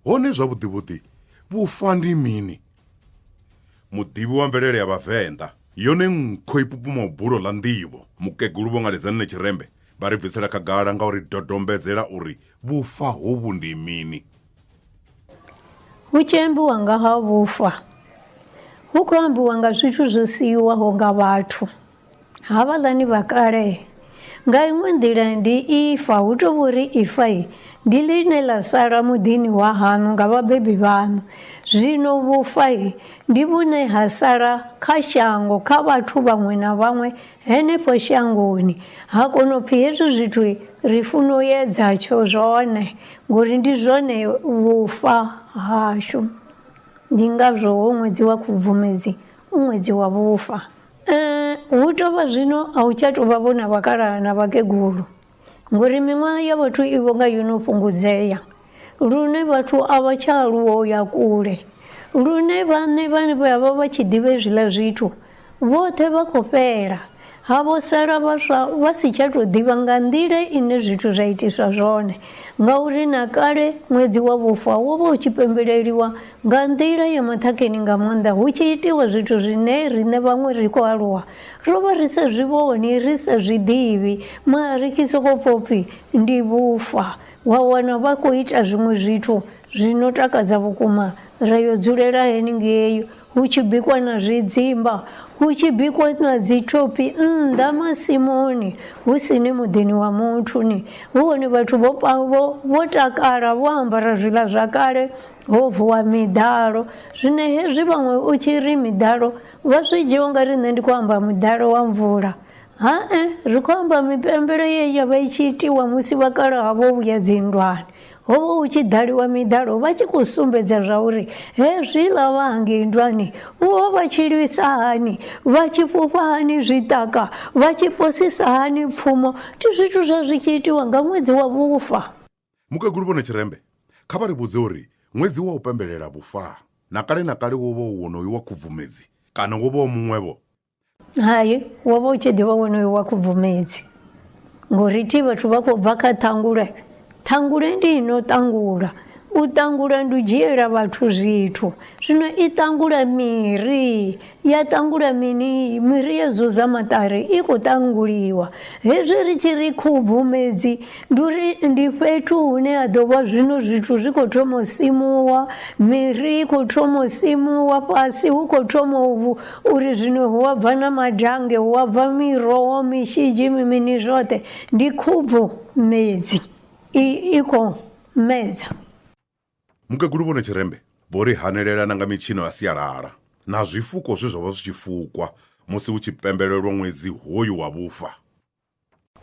hone zwavhuḓi vhuḓi vhufa ndi mini muḓivhi wa mvelele ya vhavenḓa yone nkho i pupuma bulo ḽa nḓivho mukegulu vho nga ledzanine tshirembe vha ri bvisela khagala nga uri dodombedzela uri vhufa hovhu ndi mini hu tshi ambiwa nga ha vhufa hu khou ambiwa nga zwithu zwo siiwaho nga vhathu Havhaḽani vha kale, nga iṅwe nḓila ndi ifa, hu tou vho ri ifa ndi ḽine ḽa sala muḓini wa haṋu nga vhabebi vhaṋu. Zwino vhufa ndi vhune ha sala kha shango, kha vhathu vhaṅwe na vhaṅwe henefho shangoni. Ha kono pfi hezwi zwithu ri funa u edza tsho zwone, ngori ndi zwone vhufa hashu. Ndi ngazwo ho ṅwedzi wa Khubvumedzi u ṅwedzi wa vhufa. Eh, hu tou vha zwino a u tsha tou vha vhona vhakalaha na vhakegulu ngori miṅwaha ya vhathu i vho nga yo no fhungudzea lune vhathu a vha tsha aluwa u ya kule lune vhaṋe vhane vha vha vha tshi ḓivha hezwiḽa zwithu vhoṱhe vha khou fhela ha vho sala vhaswa vha si tsha tou ḓivha nga nḓila ine zwithu zwa itiswa zwone ngauri na kale ṅwedzi wa vhufa wo vha u tshi pembeleliwa Nga nḓila ya maṱhakheni nga maanḓa hu tshi itiwa zwithu zwine riṋe vhaṅwe ri khou aluwa ro vha ri sa zwi vhoni, ri sa zwi ḓivhi, mara ri tshi sokou pfa upfi ndi vhufa, wa wana vha khou ita zwiṅwe zwithu zwi no takadza vhukuma, ra yo dzulela henengei hu tshi bikwa na zwidzimba, hu tshi bikwa na dzi thophi nnḓa masimuni hu si ni muḓini wa muthu ni, hu hone vhathu vho vho takala vho ambara zwiḽa zwa kale ho vuwa miḓalo zwine hezwi vhaṅwe u tshi ri miḓalo vha zwi dzhia unga ri nṋe ndi khou amba muḓalo wa mvula ha-e ri khou amba mipembelo ye ya vha i tshi itiwa musi vhakalaha vho vhuya dzinndwani ho vha hu tshi ḓaliwa miḓalo vha tshi khou sumbedza zwa uri hezwiḽa vha hangei ndwani vho vha tshi lwisa hani vha tshi fhufha hani zwiṱaka vha tshi posisa hani pfumo ndi zwithu zwa zwi tshi itiwa nga ṅwedzi wa vhufa Mukegulu Vho Netshirembe kha vha ri vhudze uri ṅwedzi wa u pembelela vhufa na kale na kale wo vha u wonoyu wa Khubvumedzi kana wo vha u muṅwe-vho? Hai, wo vha u tshi ḓi vha wonoyu wa Khubvumedzi ngauri thi vhathu vha khou bva kha Ṱhangule. Ṱhangule ndi i no ṱangula. U ṱangula ndi u dzhiela vhathu zwithu. Zwino i ṱangula miri Ya ṱangula mini? Miri yo zuza maṱari i khou ṱanguliwa. Hezwi ri tshi ri khubvumedzi ndi uri ndi fhethu hune ha ḓo vha zwino zwithu zwi khou thoma u simuwa, miri i khou thoma u simuwa, fhasi hu khou thoma uri zwino hu a bva na madange, hu a bva miroho, mishidzhi, mini zwoṱhe. Ndi khubvumedzi i khou medza. Mukegulu Vho Netshirembe vho ri hanelela na nga mitshino ya sialala na zwifuko zwe zwa vha zwi tshi fukwa musi hu tshi pembelelwa ṅwedzi hoyu wa vhufa.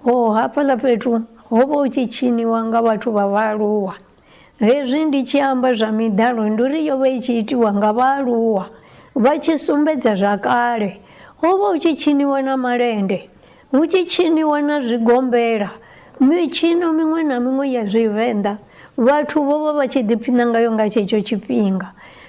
Ho hafhaḽa fhethu ho vha hu tshi tshiniwa nga vhathu vha vhaaluwa. Hezwi ndi tshi amba zwa miḓalo ndi uri yo vha i tshi itiwa nga vhaaluwa vha tshi sumbedza zwa kale. Ho vha hu tshi tshiniwa na malende. Hu tshi tshiniwa na zwigombela, mitshino miṅwe na miṅwe ya Zwivenḓa, vhathu vho vha vha tshi ḓiphina ngayo nga tshetsho tshifhinga.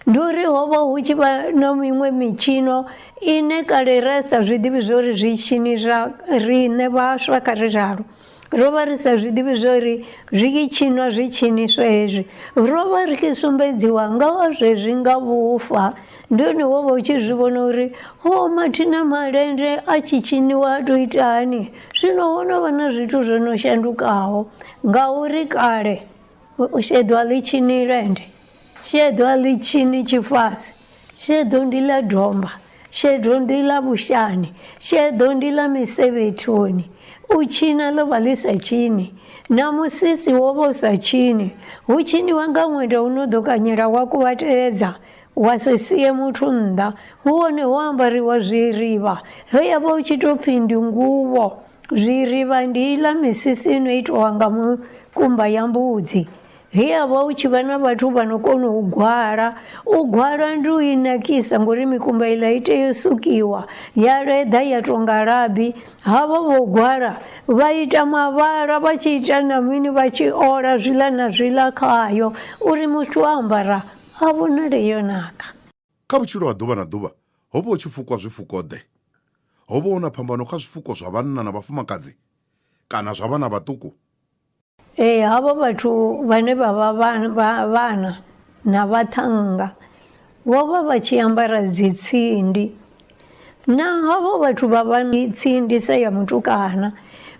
Ndi uri ho vha hu tshi vha na miṅwe mitshino ine kale ra sa zwi ḓivhi zwa uri zwi tshini zwa riṋe vhaswa kha ri ralo. Ro vha ri sa zwi ḓivhi zwa uri zwi tshi tshinwa zwi tshiniswa hezwi. Ro vha ri tshi sumbedziwa nga ha zwezwi nga vhufa. ndi hone wo vha u tshi zwi vhona uri ho mathina malende a tshi tshiniwa a tou ita hani zwino ho no vha na zwithu zwo no shandukaho ngauri kale sheḓo a ḽi tshini lende sheḓo a ḽi tshini tshifasi sheḓo ndi ḽa domba sheḓo ndi ḽa vhushani sheḓo ndi ḽa misevhethoni u tshina ḽo vha ḽi sa tshini na musisi wo vha u sa tshini hu tshiniwa nga ṅwenda u no ḓo kanyela wa kuvhatedza Wa sa sie muthu nnḓa, hu hone ho ambariwa zwirivha, he ya vha hu tshi tou pfhi ndi nguvho. Zwirivha ndi iḽa misisi i no itiwa nga mukumba ya mbudzi, he ya vha hu tshi vha na vhathu vha no kona u gwala. U gwala ndi u i nakisa ngori mikumba iḽa i tea u sukiwa ya leḓa ya tou nga labi. Ha vha vho gwala vha ita mavhala vha tshi ita na mini vha tshi ola zwiḽa na zwiḽa khayo uri muthu o ambara A vhonale yo naka. Kha vhutshilo ha ḓuvha na ḓuvha, ho vha hu tshi fukwa zwifuko-ḓe. Ho vha hu na phambano kha zwifuko zwa vhanna na vhafumakadzi kana zwa vhana vhaṱuku? Ee, havho vhathu vhane vha vha vhana na vhaṱhannga vho vha vha tshi ambara dzitsindi Naho vhathu vha vha tsindisa ya mutukana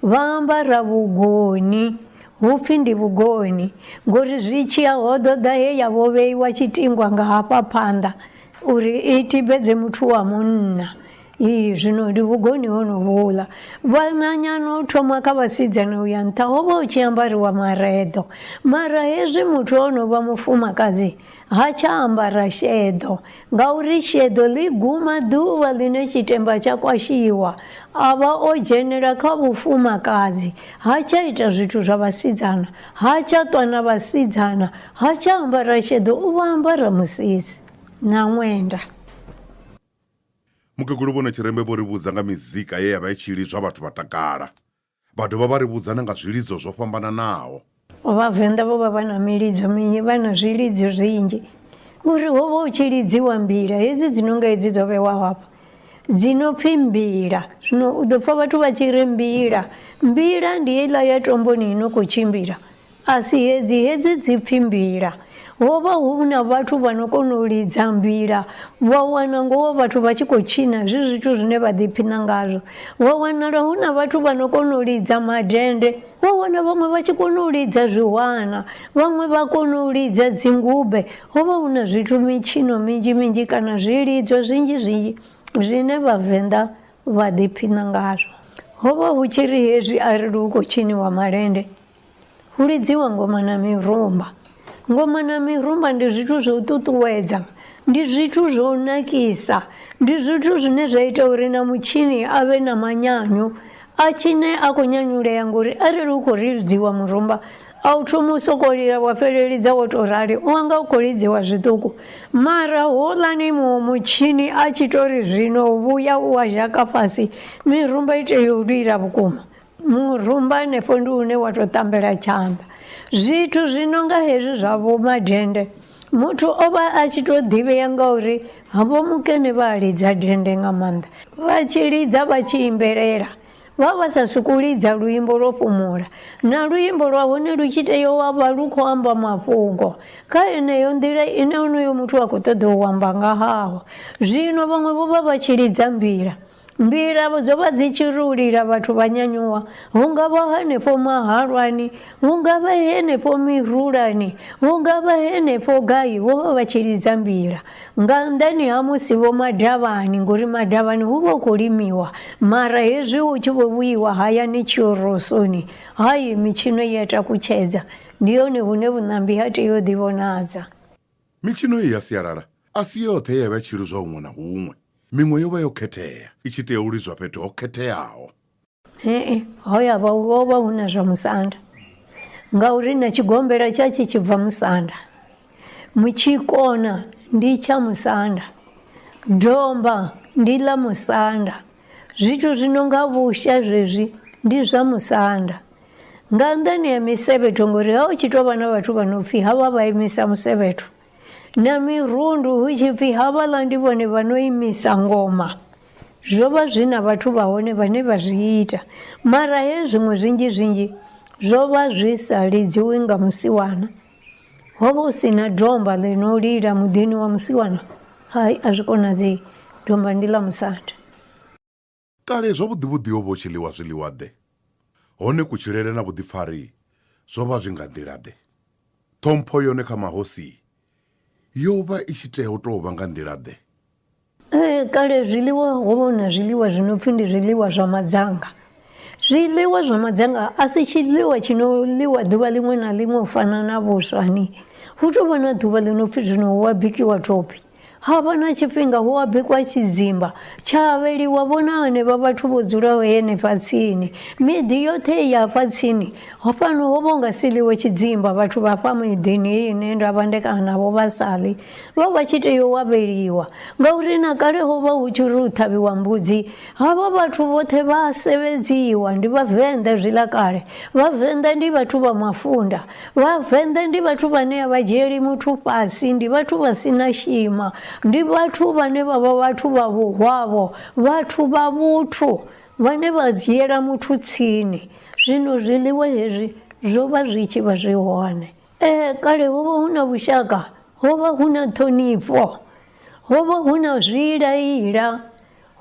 vha ambara vhugoni hupfi ndi vhugoni ngori zwi tshiya ho ḓo ḓa he ya vho vheiwa tshitingwa nga hafha phanḓa uri i tibedze muthu wa munna ii zwino ndi vhugoni hono vhuḽa vhananyana u thoma kha vhasidzana u ya nṱha ho vha hu tshi ambariwa mareḓo mara hezwi muthu o no vha mufumakadzi Ha tsha ambara sheḓo, ngauri sheḓo ḽi guma ḓuvha ḽine tshitemba tsha kwashiwa, a vha o dzhenela kha vhufumakadzi, ha tsha ita zwithu zwa vhasidzana, ha tsha ṱwa na vhasidzana, ha tsha ambara sheḓo, u vho ambara musisi na ṅwenda. Mukegulu Vho Notshirembe vho ri vhudza nga mizika ye ya vha i tshi lidzwa vhathu vha takala. Vha dovha vha ri vhudza na nga zwilidzo zwo fhambananaho. Vhavenḓa vho vha vha na milidzo minzhi, vha na zwilidzo zwinzhi ngori ho vha hu tshi lidziwa mbila hedzi dzi no nga hedzi dzo vhewaho hafha dzi no pfhi mbila. Zwino u ḓo pfha vhathu vha tshi ri mbila, mbila ndi heiḽa ya tomboni i no khou tshimbila A si hedzi hedzi dzi pfi mbila. Ho vha hu na vhathu vha no kona u lidza mbila, wa wana ngoho vhathu vha tshi khou tshina, zwi zwithu zwine vha ḓiphina ngazwo. Wa wanala hu na vhathu vha no kona u lidza madende, wa wana vhaṅwe vha tshi kona u lidza zwihwana, vhaṅwe vha kona u lidza dzingube. Ho vha hu na zwithu, mitshino minzhi minzhi kana zwilidzo zwinzhi zwinzhi zwine Vhavenḓa vha ḓiphina ngazwo. Ho vha hu tshi ri hezwi arali hu khou tshiniwa malende, hu lidziwa ngoma na mirumba ngoma na mirumba ndi zwithu zwo ṱuṱuwedza ndi zwithu zwo nakisa ndi zwithu zwine zwa ita uri na mutshini a vhe na manyanyu a tshine a khou nyanyulea ngori arali u khou lidziwa murumba a u thoma u sokou lila wa fhelelidza wo tou rali u wanga u khou lidziwa zwiṱuku mara houḽani muṅwe mutshini a tshi tou ri zwino vhuya u wa zhaka fhasi mirumba i tea u lila vhukuma murumba hanefho ndi une wa tou tambela tshanḓa zwithu zwi no nga hezwi zwa vho madende muthu o vha a tshi tou ḓivhea ngauri havho mukene vha lidza dende nga maanḓa vha tshi lidza vha tshi imbelela vha vha sa sokou lidza luimbo lwo fhumula na luimbo lwa hone lu tshi tea wa vha lu khou amba mafhungo kha yeneyo nḓila ine onoyo muthu a khou ṱoḓa u amba nga haho zwino vhaṅwe vho vha vha tshi lidza mbila Mbilahelo dzo vha dzi tshi ri u lila vhathu vha nyanyuwa, hu nga vha henefho mahalwani, hu nga vha henefho mirulani, hu nga vha henefho gai, vho vha vha tshi lidza mbila. Nga nnḓani ha musi vho madavhani, ngori madavhani hu vha hu khou limiwa, mara hezwi hu tshi vho vhuyiwa hayani tshiorosoni, hai, mitshino i a takutshedza. Ndi hone hune vhuṋambi ha tea u ḓivhonadza. Mitshino iyi ya sialala a si yoṱhe ye ya vha i tshi lidzwa huṅwe na huṅwe. Miṅwe yo vha yo khethea, i tshi tea u lidzwa fhethu ho khetheaho. Ee, ho ya vha ho vha hu na zwa musanda ngauri na tshigombela tsha tshi tshi bva musanda, mutshikona ndi tsha musanda, domba ndi ḽa musanda, zwithu zwi no nga vhusha zwezwi ndi zwa musanda. nga nnḓani ha misevhetho ngori ha u tshi tou vha na vhathu vha no pfhi havha vha imisa musevhetho na mirundu hu tshi pfhi havhaḽa ndi vhone vha no imisa ngoma zwo vha zwi na vhathu vha hone vhane vha zwi ita mara he zwiṅwe zwinzhi zwinzhi zwo vha zwi sa lidziwi nga musiwana ho vha hu si na domba ḽi no lila muḓini wa musiwana hai a zwi konadzei domba ndi ḽa musanda Kale zwavhuḓi-vhuḓi ho vha hu tshi ḽiwa zwiḽiwa-ḓe, hone kutshilele na vhuḓipfari zwo vha zwi nga nḓila-ḓe? Ṱhompho yone kha mahosi yo vha i tshi tea u tou vha nga nḓila-ḓe? Ee, kale zwiḽiwa ho vha hu na zwiḽiwa zwi no pfi ndi zwiḽiwa zwa madzanga. Zwiḽiwa zwa madzanga a si tshiḽiwa tshi no ḽiwa ḓuvha ḽiṅwe na ḽiṅwe u fana na vhuswa ni. Hu tou vha na ḓuvha ḽi no pfi zwino hu a bikiwa thophi. Ha vha na tshifhinga hu a bikwa tshidzimba tsha avheliwa vhona hanevha vhathu vho dzulaho henefha tsini. Miḓi yoṱhe i hafha tsini, fhano ho vha hu nga si ḽiwe tshidzimba, vhathu vha hafha miḓini heyi ine nda vhandekana navho vha sa ḽi, vho vha tshi tea u avheliwa. Ngauri na kale ho vha hu tshi ri hu ṱhavhiwa mbudzi, havha vhathu vhoṱhe vha a sevedziwa. Ndi Vhavenḓa zwiḽa kale, Vhavenḓa ndi vhathu vha mafunda. Vhavenḓa ndi vhathu vhane a vha dzhieli muthu fhasi, ndi vhathu vha si na shima, ndi vhathu vhane vha vha vhathu vha vhuhwavho, vhathu vha vhuthu vhane vha dzhiela muthu tsini. Zwino zwiḽiwa hezwi zwo vha zwi tshi vha zwi hone. Ee, kale ho vha hu na vhushaka, ho vha hu na ṱhonifho, ho vha hu na zwiila-ila,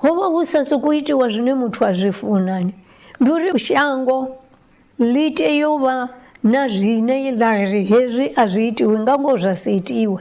ho vha hu sa sokou itiwa zwine muthu a zwi funa. Ndi uri shango Ḽi tea u vha na zwine ḽa ri hezwi a zwi itiwi nga ngoho zwa si itiwe.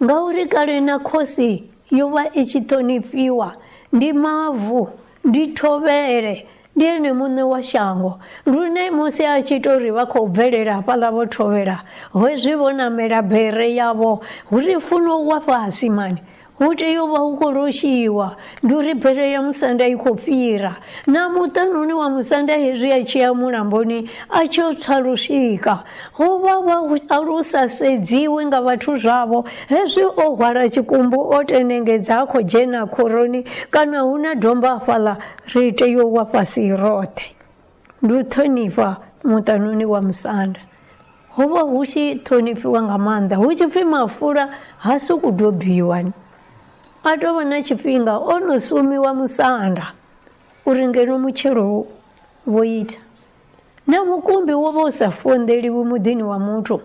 Ngauri kale na khosi yo vha i tshi ṱhonifhiwa, ndi mavu, ndi thovhele, ndi ene muṋe wa shango. Lune musi a tshi tou ri vha khou bvelela hafhaḽa vho thovhela, hezwi vho namela bere yavho, hu ri funo wa fhasi mani, Hu tea u vha hu khou loshiwa. Ndi uri bere ya musanda i khou fhira. Na muṱanuni wa musanda hezwi a tshi ya mulamboni a tshi yo tswa lwushika, ho vha vha a lu sa sedziwi nga vhathu zwavho. Hezwi o hwala tshikumbu o tenengedza a khou dzhena khoroni kana hu na domba hafhaḽa, ri tea u wa fhasi roṱhe. ndi u ṱhonifha muṱanoni wa musanda ho vha hu tshi ṱhonifhiwa nga maanḓa hu tshi pfhi mafula ha sokou dobiwa a tou vha na tshifhinga o no sumiwa musanda uri ngeno mutshelo vho ita na mukumbi wo vha u sa fonḓeliwi muḓini wa muthu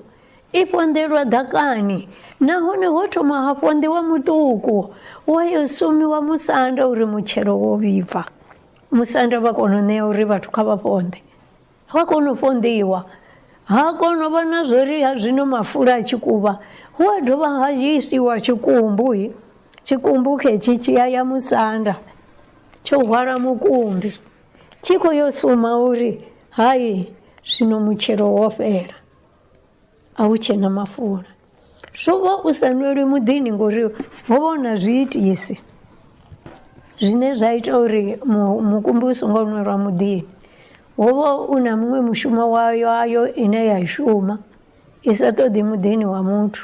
i fonḓelwa ḓakani nahone ho thoma ha fonḓiwa muṱuku wa yo sumiwa musanda uri mutshelo wo vhibva Musanda vha kona u ṋea uri vhathu kha vha ponḓe, hu a kona u ponḓiwa, ha kona u vha na zwo ri ha zwino mafula a tshi kuvha hu a dovha ha isiwa tshikumbu, tshikumbu khetshi tshi a ya musanda tsho hwala mukumbi tshi khou yo suma uri hai zwino mutshelo wo fhela. a hu tshe na mafula zwo vha u sa nwelwi muḓini ngori ho vha hu na zwiitisi zwine zwa ita uri mu- mukumbi u songo nwelwa muḓini ho vha u na muṅwe mushumo wayo ayo ine ya i shuma i sa ṱoḓi muḓini wa muthu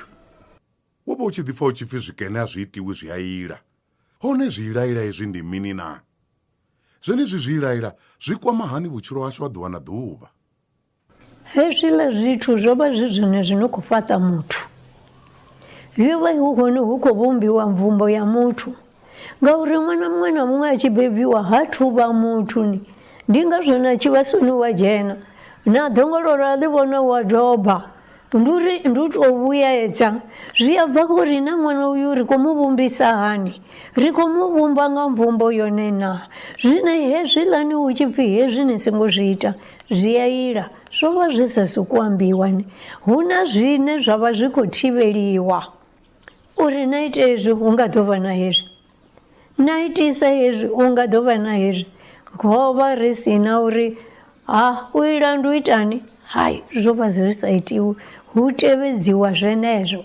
wo vha u tshi ḓipfa u tshi pfi zwikene a zwi itiwi zwi a ila hone zwiilaila hezwi ndi mini na zwenezwi zwiilaila zwi kwama hani vhutshilo hashu ha ḓuvha na ḓuvha Hezwiḽa zwithu zwo vha zwi zwone zwi no khou fhaṱa muthu. Yo vha hu hone hu khou vhumbiwa mvumbo ya muthu ngauri ṅwana muṅwe na muṅwe a tshi bebiwa ha thuvha muthu ni ndi ngazwo na tshivhasoni wa dzhena na ḓongololo a ḽi vhona wa doba Ndi uri ndi u tou vhuedza zwi a bva khou ri na ṅwana uyu ri khou mu vhumbisa hani ri khou mu vhumba nga mvumbo yone na zwine hezwiḽani hu tshi pfhi hezwi ni songo zwi ita zwi a ila zwo vha zwi sa sokou ambiwa ni hu na zwine zwa vha zwi khou thivheliwa uri na ite hezwi hu nga ḓo vha na hezwi na itisa hezwi u nga ḓo vha na hezwi ho vha ri si na uri ha u ila ndi u itani hai zwo vha zwi sa itiwi hu tevhedziwa zwenezwo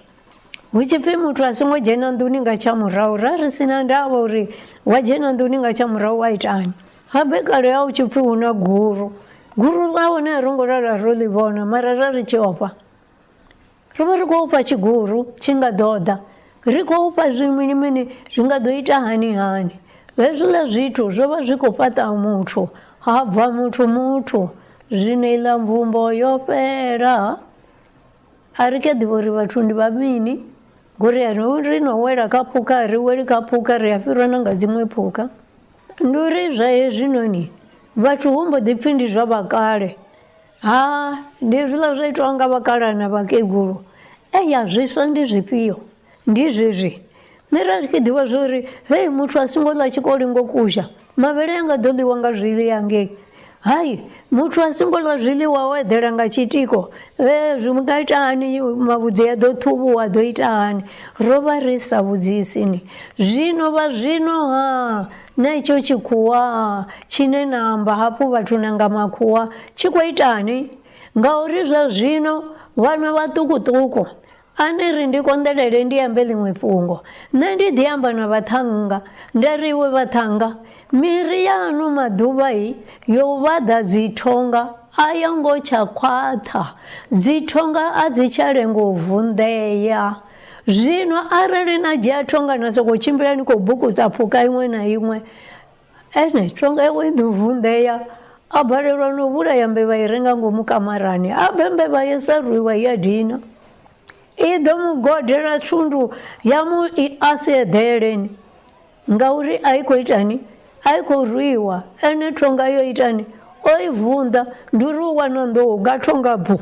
hu tshi pfhi muthu a songo dzhena nḓuni nga tsha murahu ra ri si na ndavha uri wa dzhena nḓuni nga tsha murahu wa itani habe kale ya u tshi pfhi hu na guru guru ḽa hone a ro ngo lala ro ḽi vhona mara ra ri tshi ofha Ri vha ri khou fha tshiguru tshi nga ḓo ḓa, ri khou fha zwi mini mini zwi nga ḓo ita hani hani. Hezwiḽa zwithu zwo vha zwi khou fhaṱa muthu, ha bva muthu muthu, zwino iḽa mvumbo yo fhela. A ri kha ḓivhi uri vhathu ndi vha mini, ngori a ri ri no wela kha phukha, a ri weli kha phukha, ri a fhirwa na nga dziṅwe phukha. Ndi uri zwa hezwinoni vhathu hu mbo ḓi pfi ndi zwa vhakale. ha ndi zwiḽa zwa itwa nga vhakalaha na vhakegulu eya zwiswa ndi zwifhio ndi zwezwi nṋe ra zwi khe ḓivha zwa uri hei muthu a songo ḽa tshikoli ngo kusha mavhele a nga ḓo ḽiwa nga zwili yangei hai muthu a songo ḽa zwiḽiwa o eḓela nga tshitiko e zwi nga ita hani mavhudzi a ḓo ṱhuvhuwa ḓo ita hani ro vha ri sa vhudzisini zwino vha zwino ha Na icho chikhuwa chine namba hapo vatu nanga makhuwa chikwaitani ngauri zwa zwino vhanwe vhaṱukuṱuku a ni ri ndi konḓelele ndi ambe ḽiṅwe fhungo nṋe ndi ḓi amba na vhaṱhannga nda ri iwe vhaṱhannga miri ya ano maḓuvha i yo vhaḓa dzithonga a yo ngo tsha khwaṱha dzithonga a dzi tsha lengo u vunḓea zwino arali na dzhia thonga na sokou tshimbila ni khou bukuta pfuka iṅwe na iṅwe ene thonga iwe i ḓo vunḓea a balelwa no vhulaya mbevha i re nga ngomu kamarani a bve mbevha yo sa rwiwa ya dina i ḓo mu godela thundu ya mu i a si eḓeleni ngauri a i khou itani a i khou rwiwa ene thonga yo itani o i vunḓa ndi uri u wana nḓou nga thonga bu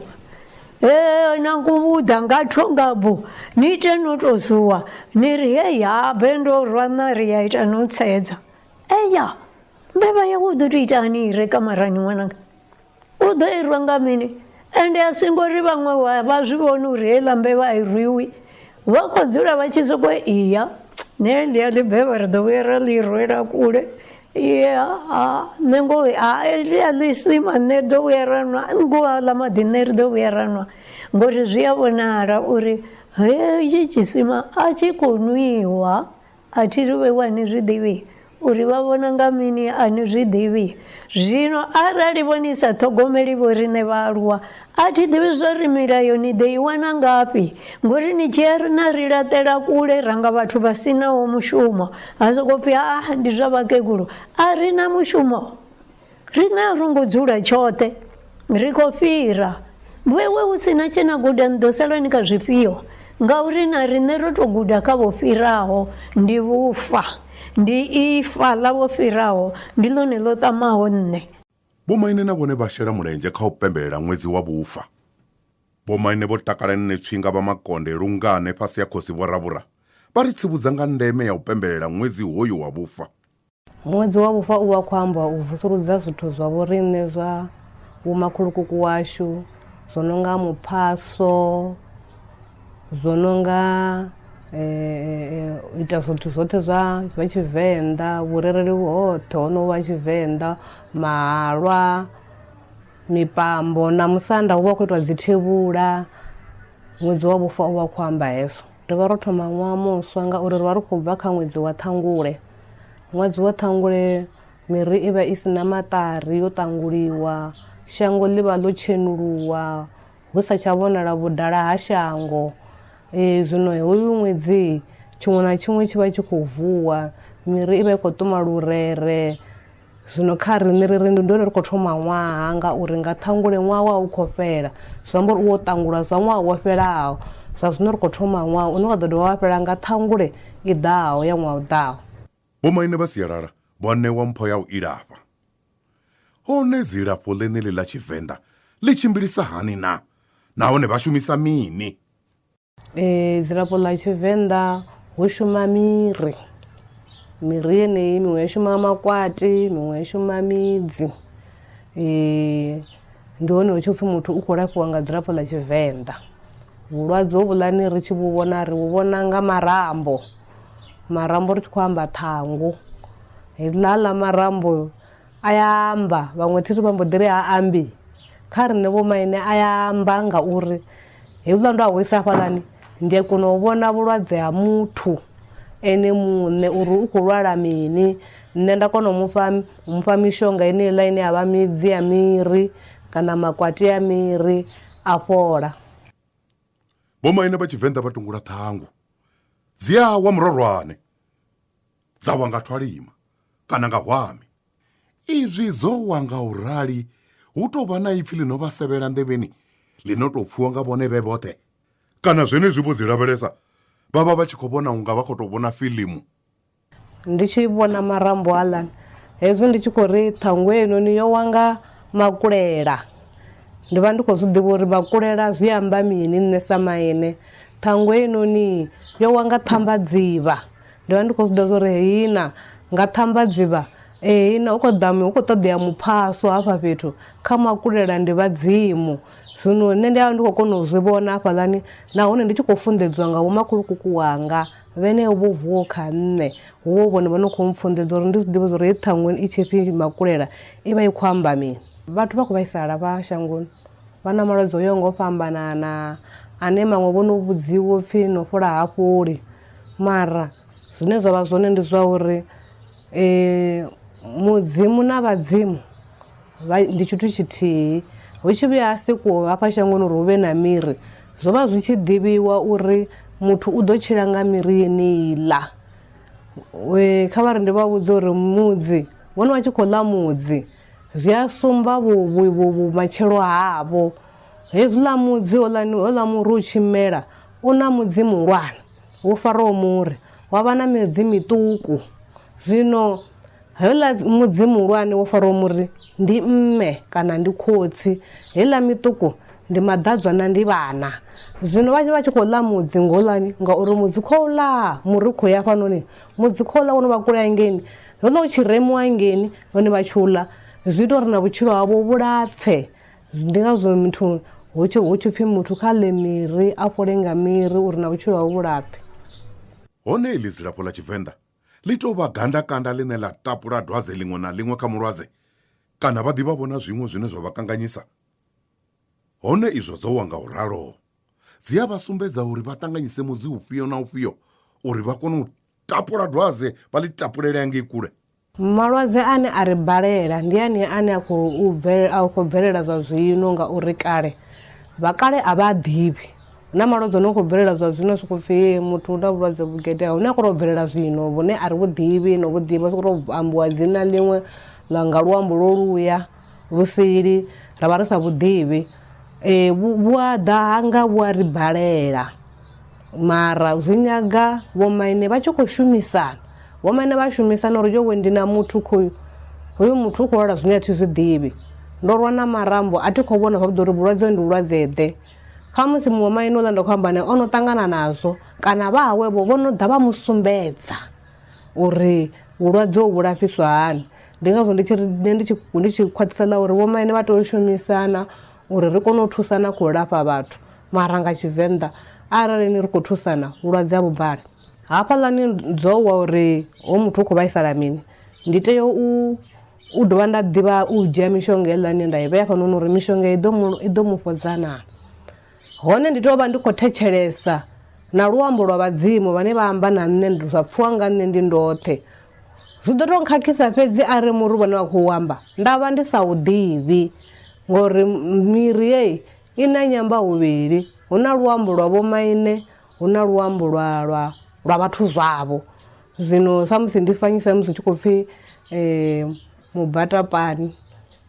e na nkuvhuḓa nga thonga bu ni ite no tou zuwa ni ri he yabe ndo rwa na ri ya ita no tsedza eya mbevha yawe u ḓo tou itani i re kamarani ṅwananga u ḓo irwa nga mini ende a si ngori vhaṅwe vha zwi vhoni uri heiḽa mbevha a i rwiwi vha khou dzula vha tshi soko iya ne ndi a ḽi bevha ri ḓo vhuya ra ḽi rwela kule ya nṋe ngo a ḽi a ḽi sima nṋe ḓo vhuya ra nwa ngo a ḽa maḓi nṋe ri ḓo vhuya ra nwa ngori zwi a vhonala uri hetshi tshisima a tshi khou nwiwa A thi ri vhe wa ni zwi ḓivhi, uri vha vhona nga mini a ni zwi ḓivhi. Zwino arali vho ni sa ṱhogomeli vhoriṋe vhaaluwa, a thi ḓivhi zwa uri milayo ni ḓo i wana ngafhi, ngori ni tshi ya na ri laṱela kule ra nga vhathu vha si naho mushumo, ha sokou pfi, Ha, ndi zwa vhakegulu, a ri na mushumo. Riṋe a ro ngo dzula tshoṱhe, ri khou fhira. Vhoiwe hu si na tshe na guda ni ḓo sala ni kha zwifhio? Ngauri na riṋe ro tou guda kha vho fhiraho, ndi vhufa. Ndi ifa ḽa vho fhiraho, ndi ḽone ḽo ṱamaho nṋe. Vhomaine na vhone vha shela mulenzhe kha u pembelela ṅwedzi wa vhufa. Vhomaine vho takala nṋe Tswinga vha Makonde lungane fhasi ha Khosi Vho Ravhura vha ri tsivhudza nga ndeme ya u pembelela ṅwedzi hoyu wa vhufa. Ṅwedzi wa vhufa u vha khou amba u vusuludza zwithu zwa vhoriṋe zwa vhomakhulukuku washu zwo no nga muphaso zwo no nga u ita zwithu zwoṱhe zwa zwa tshivenḓa vhurereli hoṱhe ho no vha tshivenḓa mahalwa mipambo na musanda hu vha hu khou itiwa dzithevhula ṅwedzi wa vhufa u vha u khou amba hezwo. Ri vha ro thoma ṅwaha muswa ngauri ri vha ri khou bva kha ṅwedzi wa ṱhangule. Ṅwedzi wa ṱhangule miri i vha i si na maṱari yo ṱanguliwa, shango ḽi vha ḽo tshenuluwa, hu sa tsha vhonala vhudala ha shango. Ee, zwino hoyu ṅwedzi tshiṅwe na tshiṅwe tshi vha tshi khou vuwa, miri i vha i khou ṱuma lurere, Zwino kha riṋe ri ri ndi hone ri khou thoma ṅwaha ngauri nga ṱhangule ṅwaha wa u khou fhela zwi amba uri u wo ṱangulwa zwa ṅwaha wo fhelaho zwa zwino ri khou thoma ṅwaha une wa ḓo dovha wa fhela nga ṱhangule i ḓaho ya ṅwaha u ḓaho. Vhomaine vha sialala vho ṋewa mpho ya u ilafha. Hone dzilafho ḽeneḽi ḽa Tshivenḓa ḽi tshimbilisa hani na nahone vha shumisa mini? Eh, dzilafho ḽa tshivenḓa hu shuma miri miri yeneyi miṅwe ya shuma makwati miṅwe ya shuma midzi um ndi hone hu tshi pfhi muthu u khou lafhiwa nga dzilafho ḽa tshivenḓa vhulwadze hovhuḽani ri tshi vhu vhona ri vhu vhona nga marambo marambo ri tshi khou amba ṱhangu heḽa ḽa marambo A ya amba, vhaṅwe thi ri vha mbo ḓi ri ha ambi. Kha riṋe vhomaine a ya amba ngauri hezwiḽa ndo a ho isa hafhaḽani ndi a kona u vhona vhulwadze ha muthu ene muṋe uri u khou lwala mini nṋe nda kona u mufha u mufha mishonga yeneiḽa ine ya vha midzi ya miri kana makwati a miri a fhola. Vhomaine vha Tshivenḓa vha tungula ṱhangu dzi a wa murorwane. dza wa nga thwalima kana nga hwami. Izwi dzo wa nga u rali hu tou vha na ipfi ḽi no vha sevhela nḓevheni ḽi no tou pfiwa nga vhone vhe vhoṱhe, kana zwenezwi vho dzi lavhelesa vha vha vha tshi khou vhona u nga vha khou tou vhona filimu. Ndi tshi vhona marambo aḽani hezwi ndi tshi khou ri ṱhangu heinoni yo wa nga makulela, ndi vha ndi khou zwi ḓivha uri makulela zwi amba mini nṋe sa maine. Ṱhangu heinoni yo wa nga ṱhambadzivha, Ndi vha ndi khou zwiḓivha zwori heyi na nga ṱhambadziba heyi na u kho ḓa hu kho ṱoḓea muphaso hafha fhethu kha makulela ndi vhadzimu zwino nṋe ndi avha ndi khou kona u zwi vhona hafhaḽani nahone ndi tshi khou funḓedziwa nga vho makhulukuku wanga vhene vho vuwaho kha nṋe hu vho vhone vho no khou mpfunḓedza uri ndi zwi ḓivhe zwori heyi ṱhangwe i tshipfi makulela i vha i khou amba mini vhathu vha khou vhaisala vha shangoni vha na malwadze o yaho nga u fhambanana ane maṅwe vho no vhudziwa upfhi no fhola ha fholi mara zwine zwa vha zwone ndi zwa uri mudzimu na vhadzimu ndi tshithu tshithihi hu tshi vhuya ha sikuwo hafha shangoni uri hu vhe na miri zwo vha zwi tshi ḓivhiwa uri muthu u ḓo tshila nga miri yeneiḽa kha vha ri ndi vha vhudza uri mudzi vhone vha tshi khou ḽa mudzi zwi a sumba vhumatshelo havho. Hezwiḽa mudzi, houḽani, houḽa muri u tshi mela, u na mudzi muhulwane, wo faraho muri, wa vha na midzi miṱuku. Zwino heuḽa mudzi muhulwane wo faraho muri ndi mme kana ndi khotsi, heiḽa miṱuku ndi maḓadzwa na ndi vhana. Zwino vha vha tshi khou ḽa mudzi ngoulani, ngauri mudzi khou ḽa muri khou ya hafhanoni, mudzi khou ḽa wo no vha kule hangeini, houḽa u tshi remiwa hangeini, hone vha tshi u ḽa, zwi ita uri na vhutshilo havho vhu lapfe. Ndi ngazwo muthu hu tshi hu tshi pfi muthu kha ḽe miri a fhole nga miri uri na vhutshilo hawe vhu lapfe. Hone iḽi dzilafho ḽa Tshivenḓa ḽi tou vha gandakanda ḽine ḽa tapula dwadze ḽiṅwe na ḽiṅwe kha mulwadze kana vha ḓivha vho na zwiṅwe zwine zwa vha kanganyisa? Hone izwo dzo wa nga u ralo dzi a vha sumbedza uri vha ṱanganyise mudzi ufhio na ufhio uri vha kone u tapula dwadze vha ḽi tapulele hangei kule. Malwadze ane a ri balela ndi anea ane a khou bvelela, a khou bvelela zwa zwino ngauri kale vha kale a vha a ḓivhi. Hu na malwadze a no khou bvelela zwa zwino soko pfhi muthu u na vhulwadze vhu geḓeaho hune a khou tou bvelela zwino vhune a ri vhu ḓivhi no vhu ḓivha sokou tou ambiwa dzina ḽiṅwe ḽa nga luambo lwo luya lu sili ra vha ri sa vhu ḓivhi. Vhu a ḓa hanga vhu a ri balela. Mara zwi nyaga vhomaine vha tshi khou shumisana. Vhomaine vha shumisana uri yowe ndi na muthu khoyu hoyu muthu u khou lwala zwine a thi zwi ḓivhi ndo rwa na marambo a thi khou vhona zwavhuḓi uri vhulwadze ndi vhulwadze ḓe khamusi muṅwe maine uḽa ndo khou amba nae o no ṱangana nazwo kana vha hawevho vho no ḓa vha mu sumbedza uri vhulwadze ho vhulafhiswa hani ndi ngazwo ndi tshi ri ndi tshi khwaṱhisa ḽa uri vhomaine vha tea u shumisana uri ri kone u thusana kha u lafha vhathu, mara nga Tshivenḓa arali ni ri khou thusana vhulwadze a vhu bvali. Hafhaḽani dzo wa uri ho muthu u khou vhaisala mini, ndi tea u u dovha nda ḓivha u dzhia mishonga heiḽa ine nda i vhea hafhanoni uri mishonga i ḓo mu i ḓo mu fhodza naa. Hone ndi tea u vha ndi khou thetshelesa na luambo lwa vhadzimu vhane vha amba na nṋe zwa pfhiwa nga nṋe ndi ndoṱhe Zwi ḓo tou khakhisa fhedzi a re muri vhone vha khou amba nda vha ndi sa u ḓivhi ngori miri yeyi i na nyamba huvhili hu na luambo lwa vho maine hu na luambo lwa lwa lwa vhathu zwavho zwino samusi ndi fanyisa musi tshi khou pfhi um mubatapani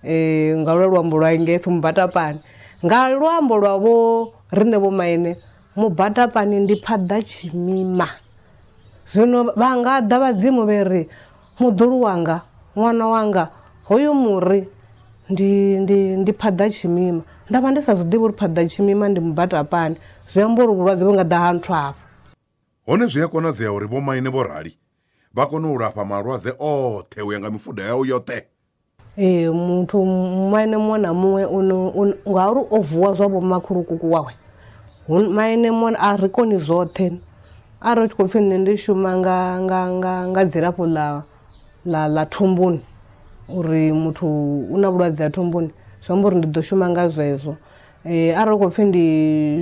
um nga lwa luambo lwa ngeish mubatapani nga luambo lwa vho riṋe vho maine Mubatapani ndi phaḓa tshimima. Zwino vha nga ḓa vhadzimu vhe ri, Muḓulu wanga, ṅwana wanga, hoyu muri ndi, ndi, ndi phaḓa tshimima. Nda vha ndi sa zwi ḓivhi uri phaḓa tshimima ndi mubatapani. Zwi amba uri vhulwadze vhu nga ḓa ha nthwa afho. Hone zwi a konadzea uri vhomaine vho rali vha kone u lafha malwadze oṱhe u ya nga mifuda yao yoṱhe. ee muthu maine muṅwe na muṅwe ngauri o vuwa zwa vho makhulukuku wawe maine muṅwe a ri koni zwoṱhe arali u tshi khou pfhi nṋe ndi shuma nga nga nga nga dzilafho ḽa ḽa ḽa thumbuni uri muthu u na vhulwadze ha thumbuni zwi amba uri ndi ḓo shuma nga zwezwo um arali u khou pfhi ndi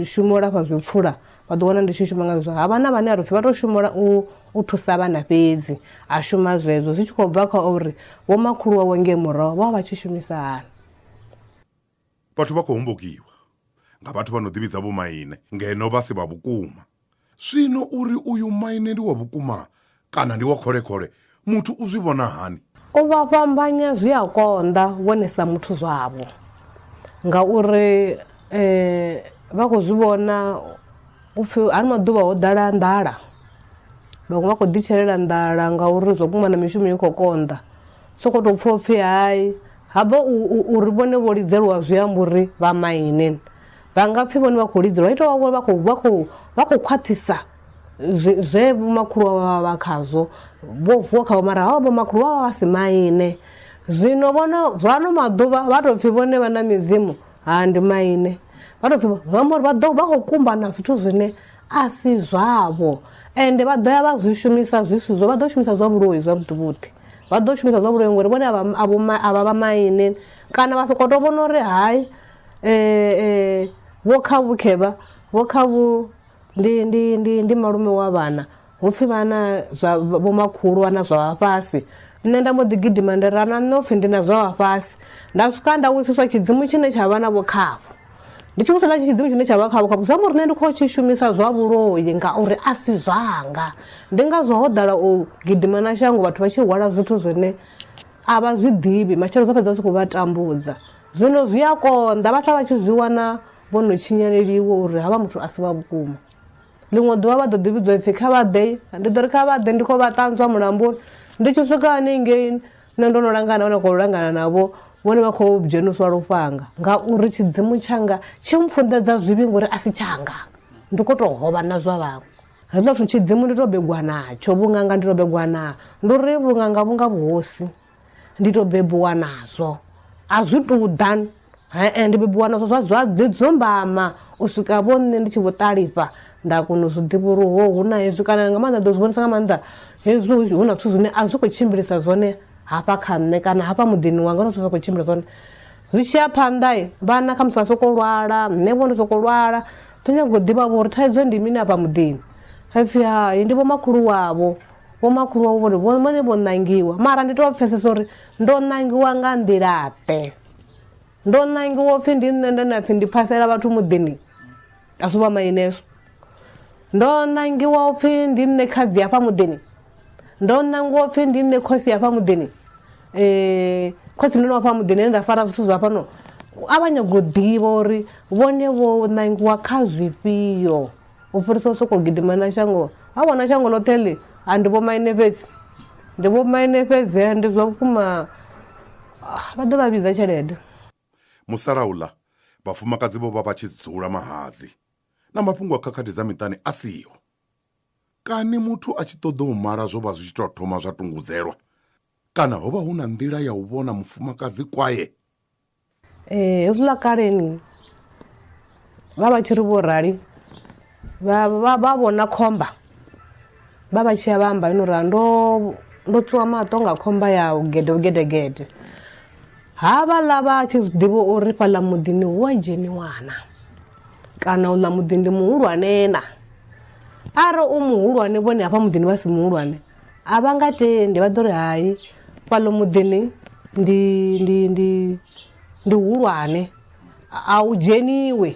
shuma u lafha zwipfula vha ḓo wana ndi tshi shuma ngazwo ha vha na vhane a ri pfhi vha tou shumela u u thusa vhana fhedzi a shuma zwezwo zwi tshi khou bva kha uri vho makhulu wawe ngei muraho vha vha tshi shumisa hani vhathu vha khou hombokiwa nga vhathu vha no ḓivhidza vhomaine ngeno vha si vha vhukuma zwino uri uyu maine ndi wa vhukuma Kana ndi wa khole-khole, muthu u zwi vhona hani? U vha fhambanya zwi a konḓa vhone sa muthu zwavho ngauri vha khou zwi vhona u pfhi ano maḓuvha ho ḓala nḓala, vhaṅwe vha khou ḓitshelela nḓala ngauri zwa vhukuma na mishumo i khou konḓa. U sokou tou pfha u pfhi hai ha vha uri vhone vho lidzelwa zwi amba uri vha maine vha nga pfhi vhone vha khou lidzelwa, hu tou vha vhone vha khou vha khou vha khou khwaṱhisa. zwe vhomakhulu vha vha vha khazwo vho vuwa khavho mara havha vhomakhulu vha vha vha si maine zwino vhono zwano maḓuvha vha tou pfhi vhone vha na midzimu ha ndi maine vha tou pfhi zwi amba uri vha ḓo vha khou kumba na zwithu zwine a si zwavho ende vha ḓo ya vha zwi shumisa zwi si zwo vha ḓo shumisa zwa vhuloi zwavhuḓi vhuḓi vha ḓo shumisa zwa vhuloi ngori vhone a vha vha maine kana vha sokou tou vhona uri hai um vho kha vhukhevha vho kha vhu ndi ndi ndi ndi malume wa vhana hupfi vhana zwa vho makhulu vhana zwa vha fhasi nṋe nda mbo ḓi gidima ndi ra na nṋe upfi ndi na zwa vha fhasi nda swika nda vhudziswa tshidzimu tshine tsha vha na vho khavho ndi tshi vhudzisa tshidzimu tshine tsha vha khavho khavho zwa uri nṋe ndi khou tshi shumisa zwa vhuloi ngauri a si zwanga ndi ngazwo ho ḓala u gidima na shango vhathu vha tshi hwala zwithu zwine a vha zwi ḓivhi matshelo zwo fhedza zwi khou vha tambudza zwino zwi a konḓa vha sala vha tshi zwi wana vho no tshinyaleliwa uri havha muthu a si wa vhukuma ḽiṅwe ḓuvha vha ḓo ḓi vhidzwa ipfhi kha vha ḓe ndi ḓo ri kha vha ḓe ndi khou vha ṱanzwa mulamboni ndi tshi swika hanengei nṋe ndo no langana vha no khou langana navho vhone vha khou dzheniswa lufhanga ngauri tshidzimu tshanga tshi mpfunḓedza zwivhi ngori a si tshanga ndi khou tou hovha na zwa vhaṅwe hezwo zwithu tshidzimu ndi tou begwa natsho vhunganga ndi tou begwa na ndi uri vhunganga vhunga vhuhosi ndi to bebiwa nazwo a zwi tou ḓa hee ndi bebiwa nazwo zwa zwa ḓi dzumbama u swika vho nṋe ndi tshi vho ṱalifha nda kona u zwi ḓivha uri ho hu na hezwi kana nga maanḓa ḓo zwi vhonisa nga maanḓa hezwi hu na zwithu zwine a zwi khou tshimbilisa zwone hafha kha nṋe kana hafha muḓini wanga huna zwithu zwa khou tshimbila zwone zwi tshiya phanḓa vhana khamusi vha sokou lwala nṋe vho ndo sokou lwala ḓo nyaga u ḓivha vho uri thaidzo ndi mini afha muḓini ha pfhi hai ndi vho makhulu wavho vhomakhulu wavho vhori vho- vhone vho ṋangiwa mara ndi tou pfesesa uri ndo ṋangiwa nga nḓilaḓe ndo ṋangiwa upfhi ndi nṋe nda na pfhi ndi phasela vhathu muḓini a si vha maineso ndo ṋangiwa upfhi ndi nṋe khadzi hafha muḓini ndo ṋangiwa upfhi ndi nṋe khosi hafha muḓini um khosi mnene wafha muḓini ene nda fara zwithu zwa fhano a vha nyago u ḓivha uri vhone vho ṋangiwa kha zwifhio u fhirisa u sokou gidima na shango ha wana shango ḽoṱhe ḽi a ndi vhomaine fhedzi ndi vhomaine fhedzi ndi zwa vhukuma ah, vha ḓo vha vhidza tshelede musalauḽa vhafumakadzi vho vha vha tshi dzula mahadzi na mafhungo a khakhathi dza miṱani a siho kani muthu a tshi ṱoḓa u mala zwo vha zwi tshi tou thoma zwa tungudzelwa kana ho vha hu na nḓila ya u vhona mufumakadzi kwaye Ee, hezwiḽa kaleni vha vha tshi ri vho rali vha vha vha vhona khomba vha vha tshi ya vha amba ino ra ndo ndo tswiwa maṱo nga khomba ya gede gedegede ha vhaḽa vha tshi zwi ḓivha uri fhaḽa muḓini hu a dzheniwana kana uḽa muḓi ndi muhulwane na arali u muhulwane vhone hafha muḓini vha si muhulwane A vha nga tendi vha ḓo ri hai fhaḽo muḓini ndi ndi ndi ndi hulwane a u dzheniwe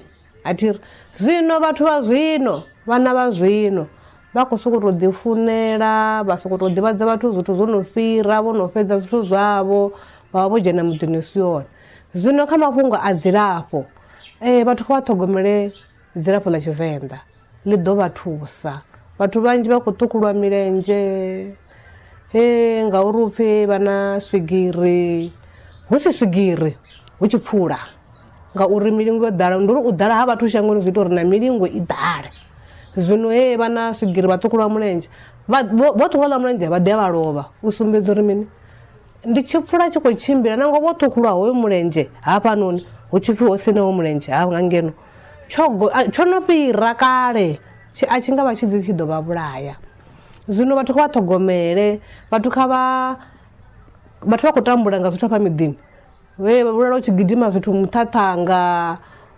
a thi ri zwino vhathu vha zwino vhana vha zwino vha khou sokou tou ḓi funela vha sokou tou ḓivhadza vhathu zwithu zwo no fhira vho no fhedza zwithu zwavho vha vha vho dzhena muḓini u si one zwino kha mafhungo a dzilafho vhathu kha vha ṱhogomele Dzilafho ḽa Tshivenḓa ḽi ḓo vha thusa. Vhathu vhanzhi vha khou ṱhukhulwa milenzhe he ngauri u pfhi vha na swigiri hu si swigiri hu tshi pfula ngauri milingo yo ḓala ndi uri u ḓala ha vhathu shangoni zwi ita uri na milingo i ḓale zwino he vha na swigiri vha ṱhukhulwa mulenzhe vho ṱhukhulwa ḽa mulenzhe vha ḓi a vha lovha u sumbedza uri mini ndi tshi pfula tshi khou tshimbila nangwe vho ṱhukhulwa hoyo mulenzhe hafhanoni hu tshipfi ho siṋeho mulenzhe ha nga ngeno Tsho tsho no fhira kale tshi a tshi nga vha tshi dzi tshi ḓo vha vhulaya zwino vhathu kha vha ṱhogomele vhathu kha vha vhathu vha khou tambula nga zwithu hafha miḓini vhe vha vhulala u tshi gidima zwithu muṱhaṱhanga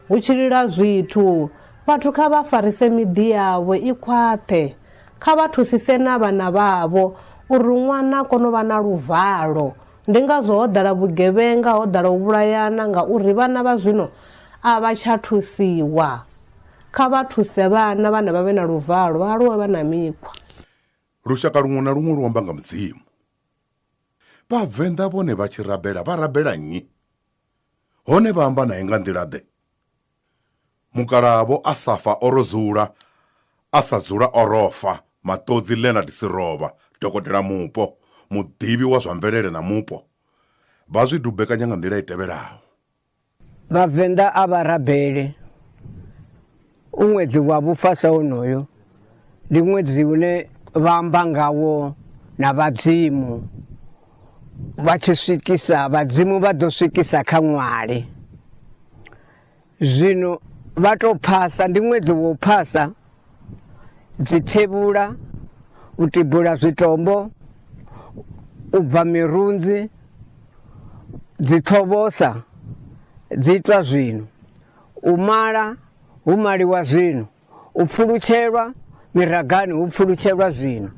hu tshi lila zwithu vhathu kha vha farise miḓi yavho i khwaṱhe kha vha thusise na vhana vhavho uri ṅwana a kone u vha na luvalo. Ndi ngazwo ho ḓala vhugevhenga, ho ḓala u vhulayana ngauri vhana vha zwino a vha tsha thusiwa. Kha vha thuse vhana, vhana vha vhe na luvalo, vha aluwe vha na mikhwa. Lushaka luṅwe na luṅwe lu amba nga Mudzimu. Vhavenḓa vhone vha tshi rabela vha rabela nnyi? Hone vha amba nae nga nḓila-ḓe? Mukalaha Vho Asafa o ro dzula a sa dzula o ro fa, Maṱodzi Leonard Siroba, dokotela mupo, muḓivhi wa zwa mvelele na mupo, vha zwi dubekanya nga nḓila i tevhelaho. Vhavenḓa a vha rabele u ṅwedzi wa vhufa sa wonoyo ndi ṅwedzi une vha amba ngawo na vhadzimu vha tshi swikisa vhadzimu vha ḓo swikisa kha ṅwali zwino vha tou phasa ndi ṅwedzi wo phasa dzithevhula u tibula zwitombo u bva mirunzi dzi ṱhovosa dzi itwa zwino u mala hu maliwa zwino u pfulutshelwa miragani hu pfulutshelwa zwino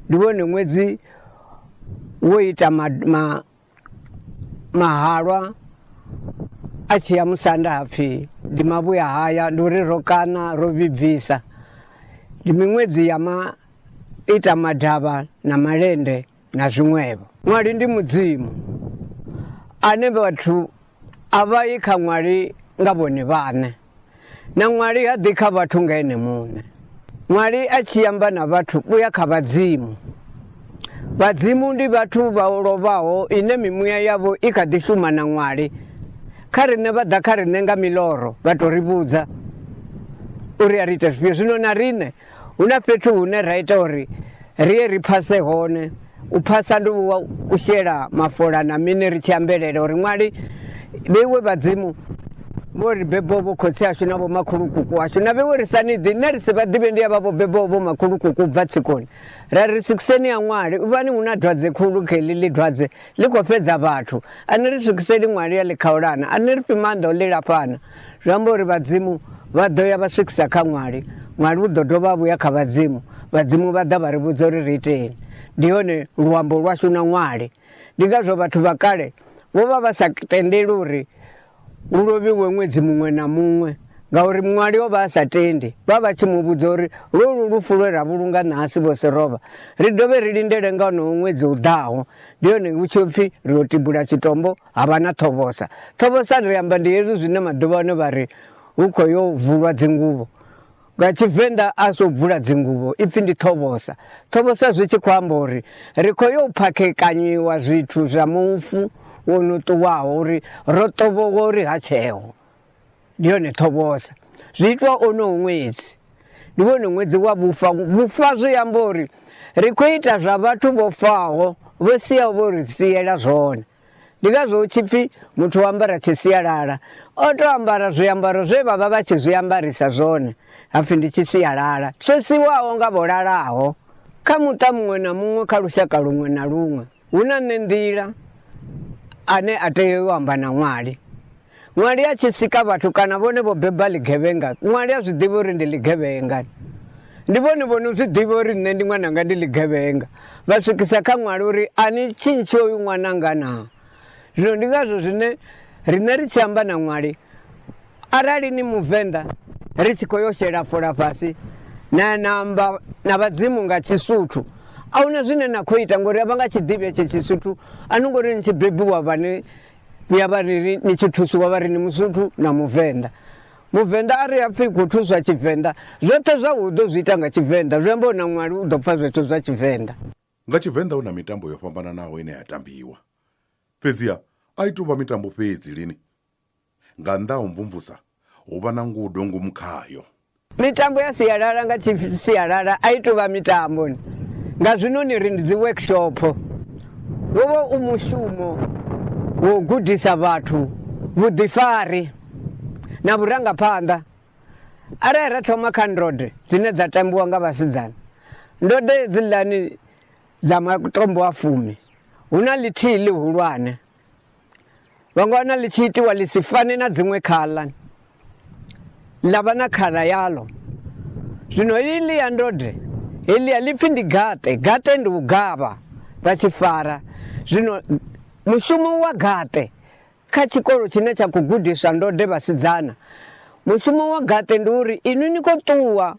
ndi wone ṅwedzi wo ita ma, ma, mahalwa a tshi ya musanda hapfi ndi mavhuya haya ndi uri ro kana ro vhibvisa ndi miṅwedzi ya ma ita madavha na malende na zwiṅwevho ṅwali ndi mudzimu ane vhathu a vha yi kha ṅwali nga vhone vhaṋe na ṅwali ha ḓi kha vhathu nga ene muṋe ṅwali a tshi amba na vhathu u ya kha vhadzimu vhadzimu ndi vhathu vha lovhaho ine mimuya yavho i kha ḓi shuma na ṅwali kha riṋe vha ḓa kha riṋe nga miloro vha tou ri vhudza uri a ri ite zwifhio zwino na riṋe Hu na fhethu hune ra ita uri ri ye ri phase hone u phasa ndi wa u shela mafola na mini ri tshi ambelela uri ṅwali vheiwe vhadzimu vho ri bebo vho khotsi ashu na vhomakhulukuku ashu na vheiwe ri sa ni ḓi nṋe ri si vha ḓivhe ndi ya vha vho bebo vhomakhulukuku u bva tsikoni ra ri sikiseni ya ṅwali u vhani hu na dwadze khulu kha heḽi ḽi dwadze Ḽi khou fhedza vhathu. A ni ri swikiseli ṅwali ya ḽikhaulana, a ni ri fhi maanḓa o ḽi lafhana. Zwi amba uri vhadzimu vha ḓo ya vha swikisa kha ṅwali, ṅwali u ḓo dovha a vhuya kha vhadzimu, vhadzimu vha ḓa vha ri vhudza uri ri iteni. Ndi hone luambo lwashu na ṅwali. Ndi ngazwo vhathu vha kale vho vha vha sa tendeli uri hu lovhiwe ṅwedzi muṅwe na muṅwe ngauri muṅwali o vha a sa tendi vha vha tshi mu vhudza uri lwolu lufu lwe ra vhulunga nahasi vho si rovha ri dovhe ri lindele nga onowo ṅwedzi u ḓaho ndi yone hu tshi pfhi ri ḓo tibula tshitombo ha vha na ṱhovhosa ṱhovhosa ri amba ndi hezwi zwine maḓuvha ano vha ri hu khou yo vulwa dzinguvho Nga Tshivenḓa a so bvula dzinguvho ipfi ndi ṱhovhosa. Ṱhovhosa zwi tshi khou amba uri ri khou yo phakhekanyiwa zwithu zwa mufu wo no ṱuwaho uri ro ṱovhowa uri ha tsheho. Ndi yone ṱhovhosa. Zwi itwa ono ṅwedzi. Ndi wone ṅwedzi wa vhufa. Vhufa zwi amba uri ri khou ita zwa vhathu vho faho vho siaho vho ri siela zwone. Ndi ngazwo hu tshi pfi muthu o ambara tshisialala o tou ambara zwiambaro zwe vha vha vha tshi zwi ambarisa zwone ha pfi ndi tshisialala tsho siwaho nga vho lalaho. Kha muṱa muṅwe na muṅwe kha lushaka luṅwe na luṅwe hu na nṋe nḓila ane a tea u amba na ṅwali. Ṅwali a tshi sika vhathu kana vhone vho beba ḽigevhenga, ṅwali a zwi ḓivha uri ndi ḽigevhenga. Ndi vhone vho no zwi ḓivha uri nṋe ndi ṅwananga ndi ḽigevhenga, vha swikisa kha ṅwali uri a ni tshintshi oyu ṅwananga naa. Zwino ndi ngazwo zwine riṋe ri tshi amba na ṅwali arali ni muvenḓa ri tshi khou yo shela fola fhasi na na amba na vhadzimu nga tshisuthu a huna zwine na khou ita ngori a vha nga tshiḓivhi etshe tshisuthu a no ngori ni tshi bebiwa vhane vhuya vha ri ri ni tshi thusiwa vha ri ni musuthu na muvenḓa muvenḓa a ri a pfhi khou thuswa tshivenḓa zwoṱhe zwa u ḓo zwi ita nga tshivenḓa zwi amba u na ṅwali u ḓo pfa zwethu zwa tshivenḓa nga tshivenḓa hu na mitambo yo fhambananaho ine ya tambiwa fhedziha a i tou vha mitambo fhedzi lini nga nnḓa ha u mvumvusa hu vha na ngudo ngomu khayo. Mitambo ya sialala nga sialala a i tou vha mitambo nga zwino ni ri ndi dzi workshop wo vha u mushumo wo gudisa vhathu vhuḓifari na vhurangaphanḓa arali ra thoma kha ndode dzine dza tambiwa nga vhasidzana ndode dzi ḽani dza matombo a fumi hu na ḽithihi ḽihulwane vhangwana ḽi tshi itiwa ḽi si fane na dziṅwe khaḽa ḽa vha na khaḽa yaḽo zwino iḽi ya ndode heḽi a ḽi pfhi ndi gaṱe gaṱe ndi u gavha vha tshi fara zwino mushumo wa gaṱe kha tshikolo tshine tsha khou gudiswa ndode vhasidzana mushumo wa gaṱe ndi uri inwi ni khou ṱuwa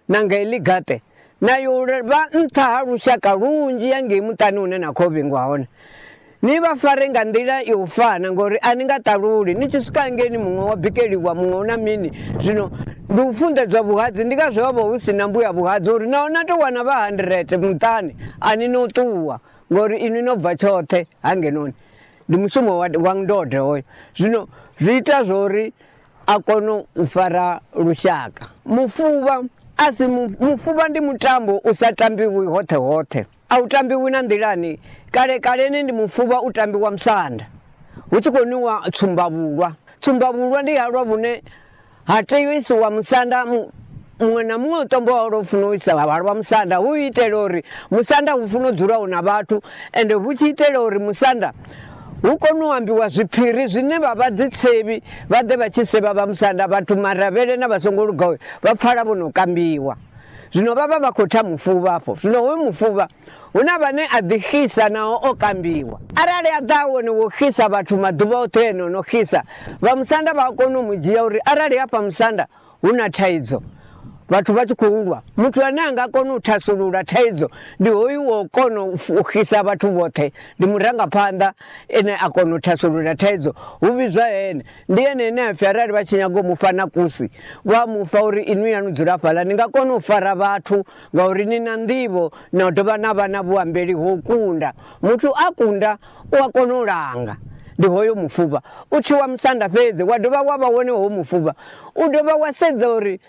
na nga heḽi gaṱe na yo vha nṱha ha lushaka lunzhi ya ngei muṱani hune na khou vhingwa hone ni vha fare nga nḓila yo fana ngori a ni nga ṱaluli ni tshi swika ngeni muṅwe wa bikeliwa muṅwe u na mini zwino ndi u funḓedzwa vhuhadzi ndi ngazwo ho vha hu si na mbuya vhuhadzi uri naho na tou wana vha handirete muṱani a ni no ṱuwa ngori inwi no bva tshoṱhe hangenoni ndi mushumo wa ndode hoyo zwino zwi ita zwori a kono u fara lushaka mufuvha a si mufuvha ndi mutambo u sa tambiwi hoṱhe hoṱhe a u tambiwi na nḓilani kale kaleni ndi mufuvha u tambiwa musanda hu tshi khou niwa tsumbavhulwa tsumbavhulwa ndi halwa vhune ha teiwa isiwa musanda muṅwe na muṅwe u tombo wawe lwo funa u isa vhavhalo vha musanda hu itela uri musanda hu funa u dzula hu na vhathu ende hu tshi itela uri musanda hu kone u ambiwa zwiphiri zwine vha vha dzitsevhi vha ḓe vha tshi sevha vha musanda vhathu maravhele na vha songo lugawe vha pfala vho no kambiwa zwino vha vha vha khou tha mufuvha afho zwino hoyo mufuvha hu na vhane a ḓi xisa naho o kambiwa arali a ḓa wone wo xisa vhathu maḓuvha oṱhe ene o no xisa vha musanda vha a kona u mu dzhia uri arali hafha musanda Hu na thaidzo, vhathu vha tshi khou lwa. Muthu ane a nga kona u thasulula thaidzo ndi hoyu wo kona u fukhisa vhathu vhoṱhe, ndi murangaphanḓa ene a kona u thasulula thaidzo. Hu vhidzwa ene, ndi ene ane a pfi arali vha tshi nyaga u mufha na kusi, vha mufha uri inwi yanu dzula fhaḽa, ni nga kona u fara vhathu ngauri ni na nḓivho na dovha na vha na vhuambeli ho kunda. Muthu a kunda u a kona u langa. Ndi hoyo mufuvha u tshi wa musanda fhedzi wa dovha wa vha wone hoyo mufuvha u dovha wa sedza uri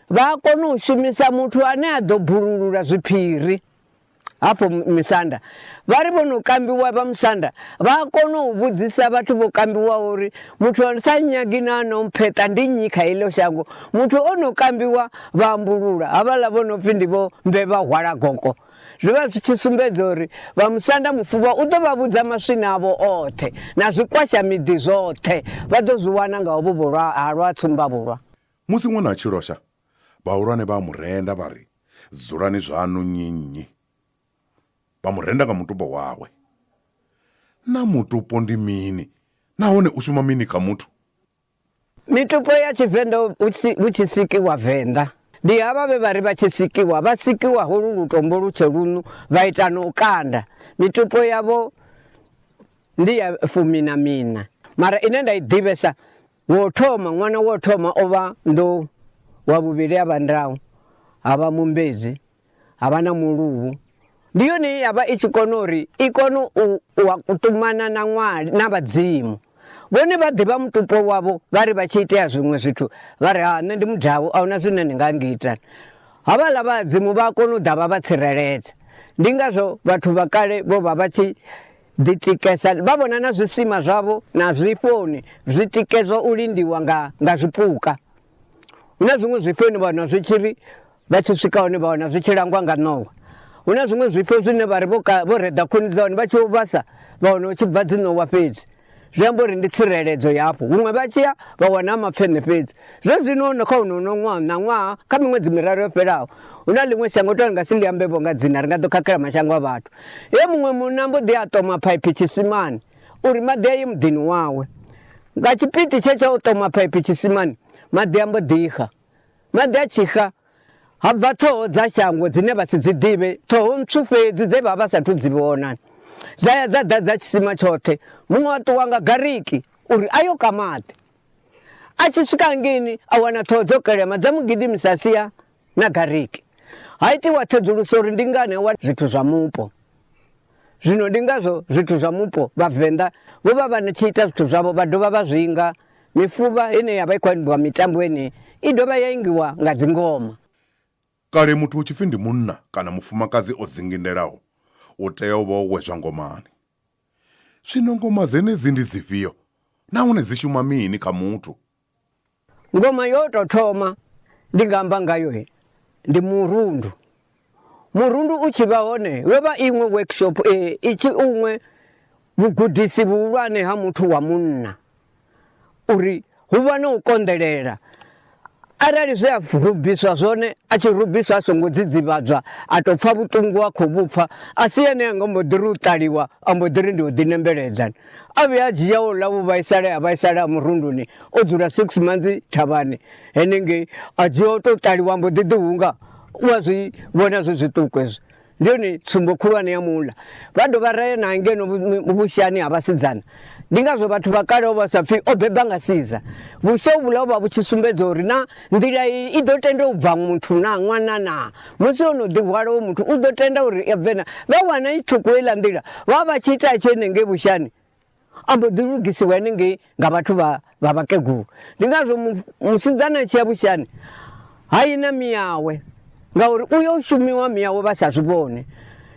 vha a kona u shumisa muthu ane a ḓo bululula zwiphiri hafho misanda vha ri vho no kambiwa vha musanda vha a kona u vhudzisa vhathu vho kambiwaho uri muthu a sa nyagi na no mpheṱa ndi nnyi kha iḽo shango muthu o no kambiwa vha ambulula havhaḽa vho no pfhi ndi vho mbe vha hwala goko Zwi vha zwi tshi sumbedza uri vha musanda mufuvha u ḓo vha vhudza maswina avho oṱhe na zwikwasha miḓi zwoṱhe vha ḓo zwi wana nga hovhu vhulwa ha lwa tsumbavhulwa. Musi ṅwana a tshi losha, vhahulwane vha a mu renda vha ri, Dzulani zwaṋu nnyi-nnyi. Vha mu renda nga mutupo wawe. Naa mutupo ndi mini nahone u shuma mini kha muthu? Mitupo ya Tshivenḓa hu tshi sikiwa Venḓa ndi havha vhe vha ri vha tshi sikiwa vha sikiwa holu lutombo lutshe lunu vha ita na u kanda mitupo yavho ndi ya fumi na mina mara ine nda i ḓivhesa wo thoma ṅwana wo thoma o vha ndo wa vhuvhili a vha ndawu ha vha mumbedzi ha vha na muluvhu ndi yone ye ya vha i tshi kona uri i kone u wa kutumana na ṅwali na vhadzimu vhone vha ḓivha mutupo wavho vha ri vha tshi itea zwiṅwe zwithu vha ri ha nṋe ndi mudavhu a huna zwine ndi nga ngita havhaḽa vhadzimu vha a kona u ḓa vha vha tsireledza ndi ngazwo vhathu vha kale vho vha vha tshi ḓitikesa vha vhona na zwisima zwavho na zwifhoni zwi tikedzwa u lindiwa nga nga zwipuka hu na zwiṅwe zwifhoni vhona zwi tshi ri Vha tshi swika hone vha wana zwi tshi langwa nga ṋowa. Hu na zwiṅwe zwifho zwine vha ri vho ka vho reḓa khuni dza hone vha tshi u vhasa vha wana u tshi bva dziṋowa fhedzi. Zwi amba uri ndi tsireledzo yafho. Huṅwe vha tshi ya vha wana mapfeṋe fhedzi. Zwe zwino no kha uno no ṅwaha na ṅwaha kha miṅwedzi miraru yo fhelaho hu na ḽiṅwe shango to ri nga si ḽi ambe vho nga dzina ri nga ḓo khakhela mashango a vhathu. He muṅwe munna mbo ḓi a ṱoma phaiphi tshisimani uri maḓi a ye muḓini wawe. Nga tshipiti tshe tsha u ṱoma phaiphi tshisimani maḓi a mbo ḓi xa. Maḓi a tshi xa, ha bva ṱhoho dza shango dzine vha si dzi ḓivhe, ṱhoho ntswu fhedzi dze vha vha sa thu dzi vhona. Dza ya dza ḓadza tshisima tshoṱhe. Muṅwe a ṱuwa nga gariki uri a yo ka maḓi. A tshi swika ngini a wana ṱhoho dzo kelema dza mu gidimisa sia na gariki. Ha itiwa ṱhedzuluso uri ndi ngani a wana zwithu zwa mupo. zwino ndi ngazwo zwithu zwa mupo vhavenḓa vho vha vha tshi ita zwithu zwavho vha dovha vha zwinga mifuvha ine ya vha i khou imbiwa mitambo enei i dovha ya ingiwa nga dzingoma kale muthu hu tshipfi ndi munna kana mufumakadzi o dzingindelaho u tea u vha o wedzwa ngomani zwino ngoma dzenedzi ndi dzifhio nahone dzi shuma mini kha muthu Ngoma yo tou thoma ndi nga amba ngayo ndi murundu murundu u tshi vha hone yo vha iṅwe workshop eh, i tshi uṅwe vhugudisi vhuhulwane ha muthu wa munna uri hu vha na u konḓelela arali zwe a rubiswa zwone a tshi rubiswa a songo dzidzivhadzwa a tou pfha vhuṱungu a khou vhupfa a si ene a nga mbo ḓi ri u ṱaliwa a mbo ḓi ri ndi u ḓinembeledza a vhuya a dzhia wo ḽa vhuvhaisale ha vhaisale ha murunduni o dzula six months thavhani henengei a dzhia o tou ṱaliwa mbo ḓi ḓihunga u a zwi vhona zwi zwiṱuku hezwo ndi yone tsumbo khulwane ya muḽa vha dovha raye na ngeno vhushani ha vhasidzana ndi ngazwo vhathu vha kale o vha sa pfhi o beba nga siza vhusha vhula vha vhu tshi sumbedza uri na Nḓila iyi i ḓo tenda u bva muthu na ṅwana na musi o no ḓihwala wo muthu u ḓo tenda uri ya bvena vha wana i ṱhuku heiḽa nḓila vha vha tshi ita tshi henengei vhushani a mbo ḓi lugisiwa henengei nga vhathu vha vha vhakegulu ndi ngazwo musidzana a tshi ya vhushani ha yi na miyawe ngauri u yo shumiwa miyawe vha sa zwi vhone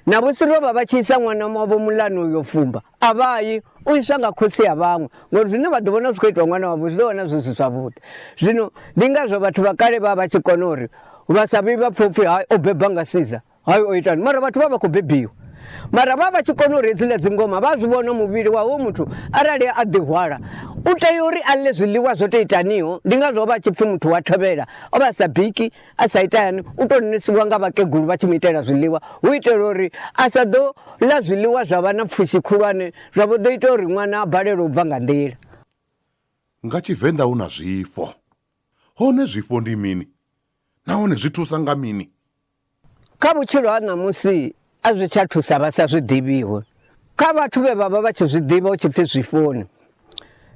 na vhusi ro vha vha tshi isa ṅwana wavho mulani uyo fumba a vha yi u iswa nga khotsi ya vhaṅwe ngori zwine vha ḓo vhona zwi khou itwa ṅwana wavho zwi ḓo vhona zwi si zwavhuḓi zwino ndi ngazwo vhathu vha kale vha vha tshi kona uri vha sa vhi vha pfhe upfhi hai o beba nga siza hai o itani mara vhathu vha vha khou bebiwa mara vha vha tshi kona uri hedziḽa dzingoma vha zwi vhona muvhili wa hoyo muthu arali a ḓihwala u tea uri a ḽe zwiḽiwa zwo to itaniho ndi ngazwo vha tshi pfhi muthu wa thovhela o vha sa biki a sa ita yani u tou nisiwa nga vhakegulu vha tshi mu itela zwiḽiwa hu itela uri a sa ḓo ḽa zwiḽiwa zwa vha na pfushi khulwane zwa vho ḓo ita uri ṅwana a balelwe u bva nga nḓila nga tshivenḓa hu na zwifho hone zwifho ndi mini nahone zwi thusa nga mini kha vhutshilo ha ṋamusi a zwi tsha thusa vha sa zwi ḓivhiho kha vhathu vhe vha vha vha tshi zwi ḓivha hu tshi pfi zwifoni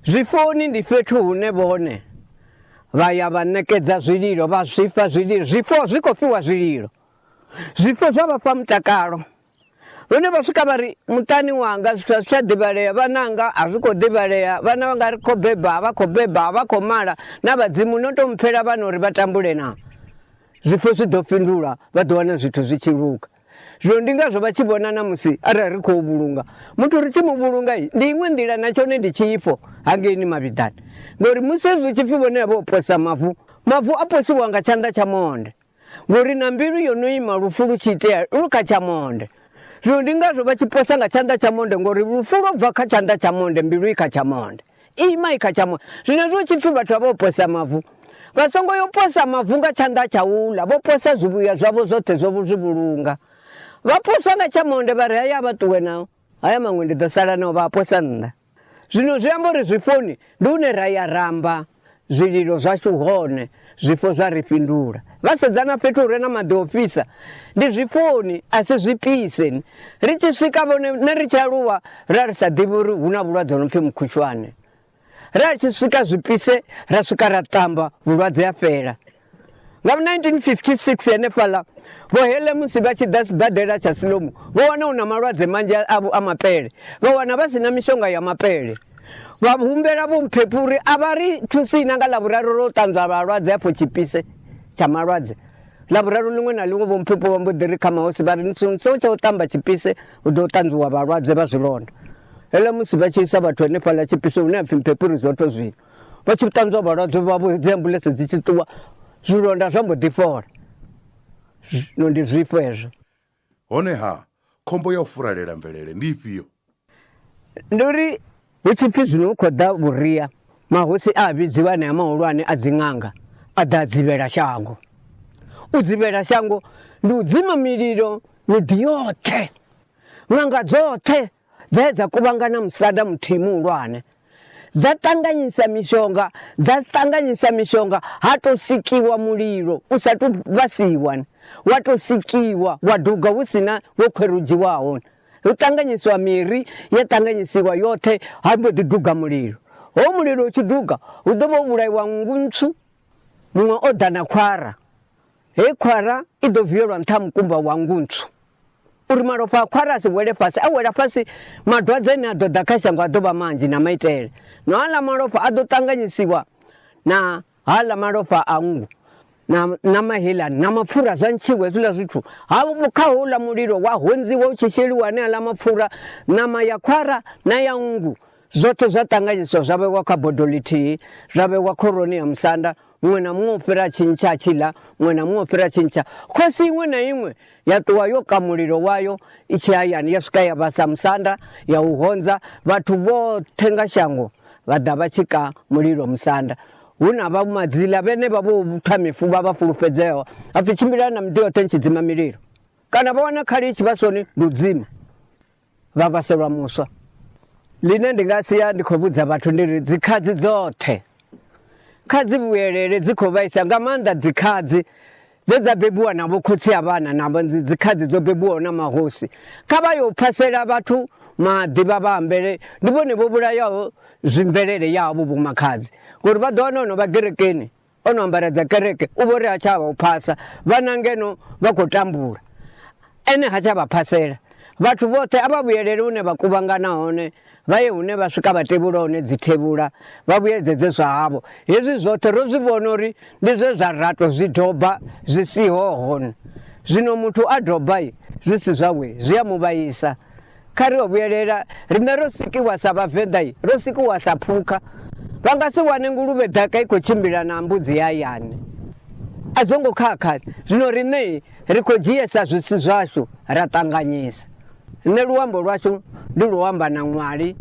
zwifoni ndi fhethu hune vhone vha ya vha ṋekedza zwililo vha zwifha zwililo zwifho zwi khou fhiwa zwililo zwifho zwa vha fha mutakalo lune vha swika vha ri muṱani wanga zwithu a zwi tsha ḓivhalea vhananga a zwi khou ḓivhalea vhana vhanga ri khou beba vha khou beba vha khou mala na vhadzimu no to mpfhela vhana uri vha tambule na Zwifho zwi ḓo fhindulwa, vha ḓo wana zwithu zwi tshi luga. Zwino ndi ngazwo vha tshi vhona na musi arali ri khou vhulunga muthu ri tshi mu vhulunga ndi iṅwe nḓila na tshone ndi tshifho hangeini mavhiḓani ngori musi hezwi tshi pfhi vhone vha posa mavu mavu a posiwa nga tshanḓa tsha monde ngori na mbilu yo no ima lufu lu tshi itea lu kha tsha monde zwino ndi ngazwo vha tshi posa nga tshanḓa tsha monde ngori lufu lwo bva kha tshanḓa tsha monde mbilu i kha tsha monde Imai kha tsha moya. Zwenezwo hu tshi pfi vhathu vha vho posa mavu, vha songo yo posa mavu nga tshanḓa tsha uḽa, vho posa zwivhuya zwavho zwoṱhe zwo zwi vhulunga. Vha posa nga tsha monde vha ri haya a vha ṱuwe nao, haya maṅwe ndi ḓo sala nao, vha a posa nnḓa. Zwino zwi amba uri zwifhoni ndi hune ra ya ra amba zwililo zwashu hone zwifho zwa ri fhindula vha sedzana fhethu hure na maḓi o fhisa ndi zwifhoni a si zwipise ri tshi swika vhone ne ri tshi aluwa ra ri sa ḓivhi uri hu na vhulwadze no pfhi mukhushwane ra tshi swika zwipise ra swika ra ṱamba vhulwadze a fhela Nga 1956 henefhaḽa vho hele musi vha tshi ḓa sibadela tsha Silomo vho wana hu na malwadze manzhi avho a mapele vha wana vha si na mishonga ya mapele vha humbela vho mphephu uri a vha ri thusi na nga ḽavhuraru ro ṱanzwa vhalwadze afho tshipise tsha malwadze ḽavhuraru ḽiṅwe na ḽiṅwe vho mphephu vha mbo ḓi ri kha mahosi vha ri so tsha u ṱamba tshipise hu ḓo ṱanzwiwa vhalwadze vha zwilonda hele musi vha tshi isa vhathu henefhaḽa tshipise hune ha pfhi mphephu ri zwoṱho zwino vha tshi ṱanzwa vhalwadze vhavho dzi ambuḽentse dzi tshi ṱuwa zwilonda zwa mbo ḓi fhola zwino ndi zwifho hezwo honeha khombo ya u furalela mvelele ndi ifhio ndi uri hu tshi pfhi zwino hu khou ḓa vhuria mahosi a vhidziwa anea mahulwane a dziṅanga a ḓa a dzivhela shango u dzivhela shango ndi u dzima mililo miḓi yoṱhe ṅanga dzoṱhe Dze dza kuvhangana musada muthihi muhulwane. Dza ṱanganyisa mishonga, dza ṱanganyisa mishonga ha to sikiwa mulilo u sa tu vhasiwa. Wa to sikiwa wa duga hu sina wo khwerudziwaho. Hu ṱanganyisiwa miri ya ṱanganyisiwa yoṱhe ha mbo ḓi duga mulilo. Ho mulilo u tshi duga hu ḓo vha vhulaiwa nngu ntswu muṅwe o ḓa na khwara. Hei khwara i ḓo vielwa nṱha ha mukumba wa nngu ntswu. uri malofha a khwara a si wele fhasi a wela fhasi madwadze ane a ḓo ḓa kha shango a ḓo vha manzhi na maitele na haḽa malofha a ḓo ṱanganyisiwa na haḽa malofha a nngu na mahelani na mapfura zwa ntshiwe hezwiḽa zwithu ha kha houḽa mulilo wa hondziwa u tshi sheliwa ane aḽa mapfura ṋama ya khwara na ya nngu Zwoṱhe zwa ṱanganyiswa zwa vhewa kha bodo ḽithihi, zwa vhewa khoroni ya musanda, muṅwe na muṅwe u fhira a tshi ntsha a tshi ḽa, muṅwe na muṅwe u fhira a tshi ntsha. Khosi iṅwe na iṅwe ya ṱuwa yo ka mulilo wayo i tshi hayani, ya swika ya vhasa musanda, ya u honza. Vhathu vhoṱhe nga shango vha ḓa vha tshi ka mulilo musanda. Hu na vha madzila vhenevha vho tha mifuvha vha fhulufhedzeaho, ha pfi, Tshimbilani na miḓi yoṱhe ni tshi dzima mililo, kana vha wana khali i tshi vha soni, ndi u dzima. vha vhaselwa muswa ḽine ndi nga sia ndi khou vhudza vhathu ndi ri dzikhazi dzoṱhe kha dzi vhuyelele dzi khou vhaisa nga maanḓa dzikhazi dze dza bebiwa na vhokhotsi a vhana na dzikhazi dzo bebiwaho na mahosi kha vha yo phasela vhathu maḓi vha vha ambele ndi vhone vho vhulayaho zwimvelele yavho vhomakhadzi ngori vha ḓo wana ono vha gerekeni o no ambara dza kereke u vho ri ha tsha vha u phasa vhana ngeno vha khou tambula ene ha tsha vha phasela vhathu vhoṱhe a vha vhuyelele hune vha kuvhangana hone vha ye hune vha swika vha tevhula hone dzi thevhula vha vhuyedzedze zwa havho hezwi zwoṱhe ro zwi vhona uri ndi zwe zwa rato zwi doba zwi siho hone zwino muthu a doba zwi si zwawe zwi a mu vhaisa kha ri o vhuyelela riṋe ro sikiwa sa vhavenḓa i ro sikiwa sa phukha vha nga si wane nguluvhe ḓaka i khou tshimbila na mbudzi ya yane a zwo ngo khakha zwino riṋe ri khou dzhiesa zwisi zwashu ra ṱanganyisa nṋe luambo lwashu ndi luamba na ṅwali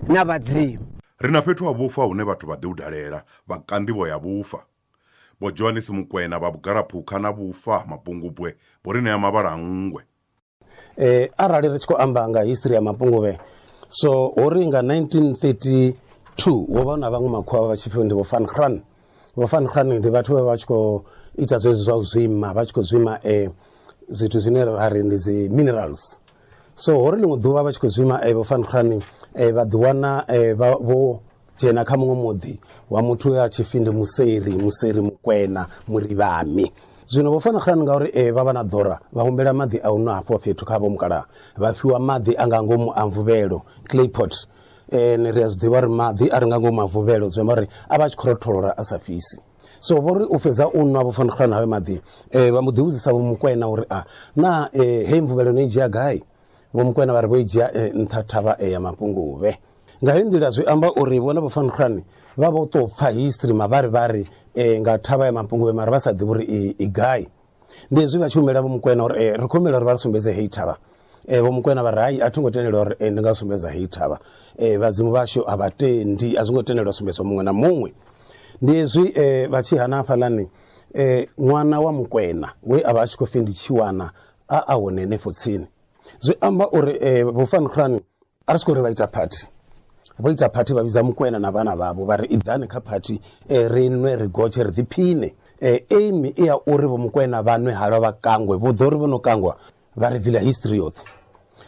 na vhadzimu Ri na fhethu ha vhufa hune vhathu vha ḓi hu dalela vha ka nḓivho ya vhufa. Vho Johanisi Mukwena vha Vhugalaphukha na Vhufa ha Mapungubwe vho ri ṋea mavhala a nngwe. eh, arali ri tshi khou amba nga history ya mapunguvhe so ho ri nga 1932 ho vha na vhaṅwe makhuwa vha tshi pfi ndi vho fan hran vho fan hran ndi vhathu vhe vha tshi khou ita zwezwi zwa u zwima vha tshi khou zwima eh, zwithu zwine ra ri ndi dzi minerals so ho ri ḽiṅwe ḓuvha vha tshi khou zwima eh, vho fan hran eh, vha ḓiwana eh, vha- vho dzhena kha muṅwe muḓi wa muthu ya tshipfi ndi museri museri mukwena murivhami zwino vho fana khan ngauri e vha vha na ḓora vha humbela maḓi a u nwa hafho fhethu kha vho mukalaha vha fhiwa maḓi a nga ngomu a mvuvhelo claypot um ri a zwi ḓivha uri maḓi a ri nga ngomu a mvuvhelo zwi amba uri a vha a tshi khou rotholola a sa fhisi so vho ri u fhedza u nwa vho fana khan hawe maḓi um vha mu ḓivhudzisa vho mukwena uri a na um hei mvuvhelo no i dzhia gai vho mukwena vha ri vho i dzhia nṱha thavha e ya mapunguvhe nga hei nḓila zwi amba uri vhone vho fankhulwane vha vho tou pfa history mavharivhari um nga thavha ya mapunguvhe mara vha sa ḓivhi uri i gai ndi hezwi vha tshi humela vho mukwena uri eh, ri khou humela uri vha ri sumbedze hei thavha um vho mukwena vha ri hai a thi ngo tendelwa uri eh, ndi nga sumbedza hei thavha um vhadzimu vhashu a vha tendi a zwi ngo tendelwa sumbedzwa muṅwe na muṅwe ndi hezwi um vha tshi hana hafhaḽani um ṅwana wa mukwena we a vha a tshi khou pfi ndi tshiwana a a hone henefho tsini zwi amba uri eh, vho fan khulwane a ri siko uri vha ita party vho ita party vha vhidza mukwena na vhana vhavho vha ri iḓani kha party eh, ri nwe ri gotshe ri ḓiphine eh, aim i ya uri vho mukwena vha nwe halwa vha kangwe vho ḓo uri vho no kangwa vha ri vila history yoṱhe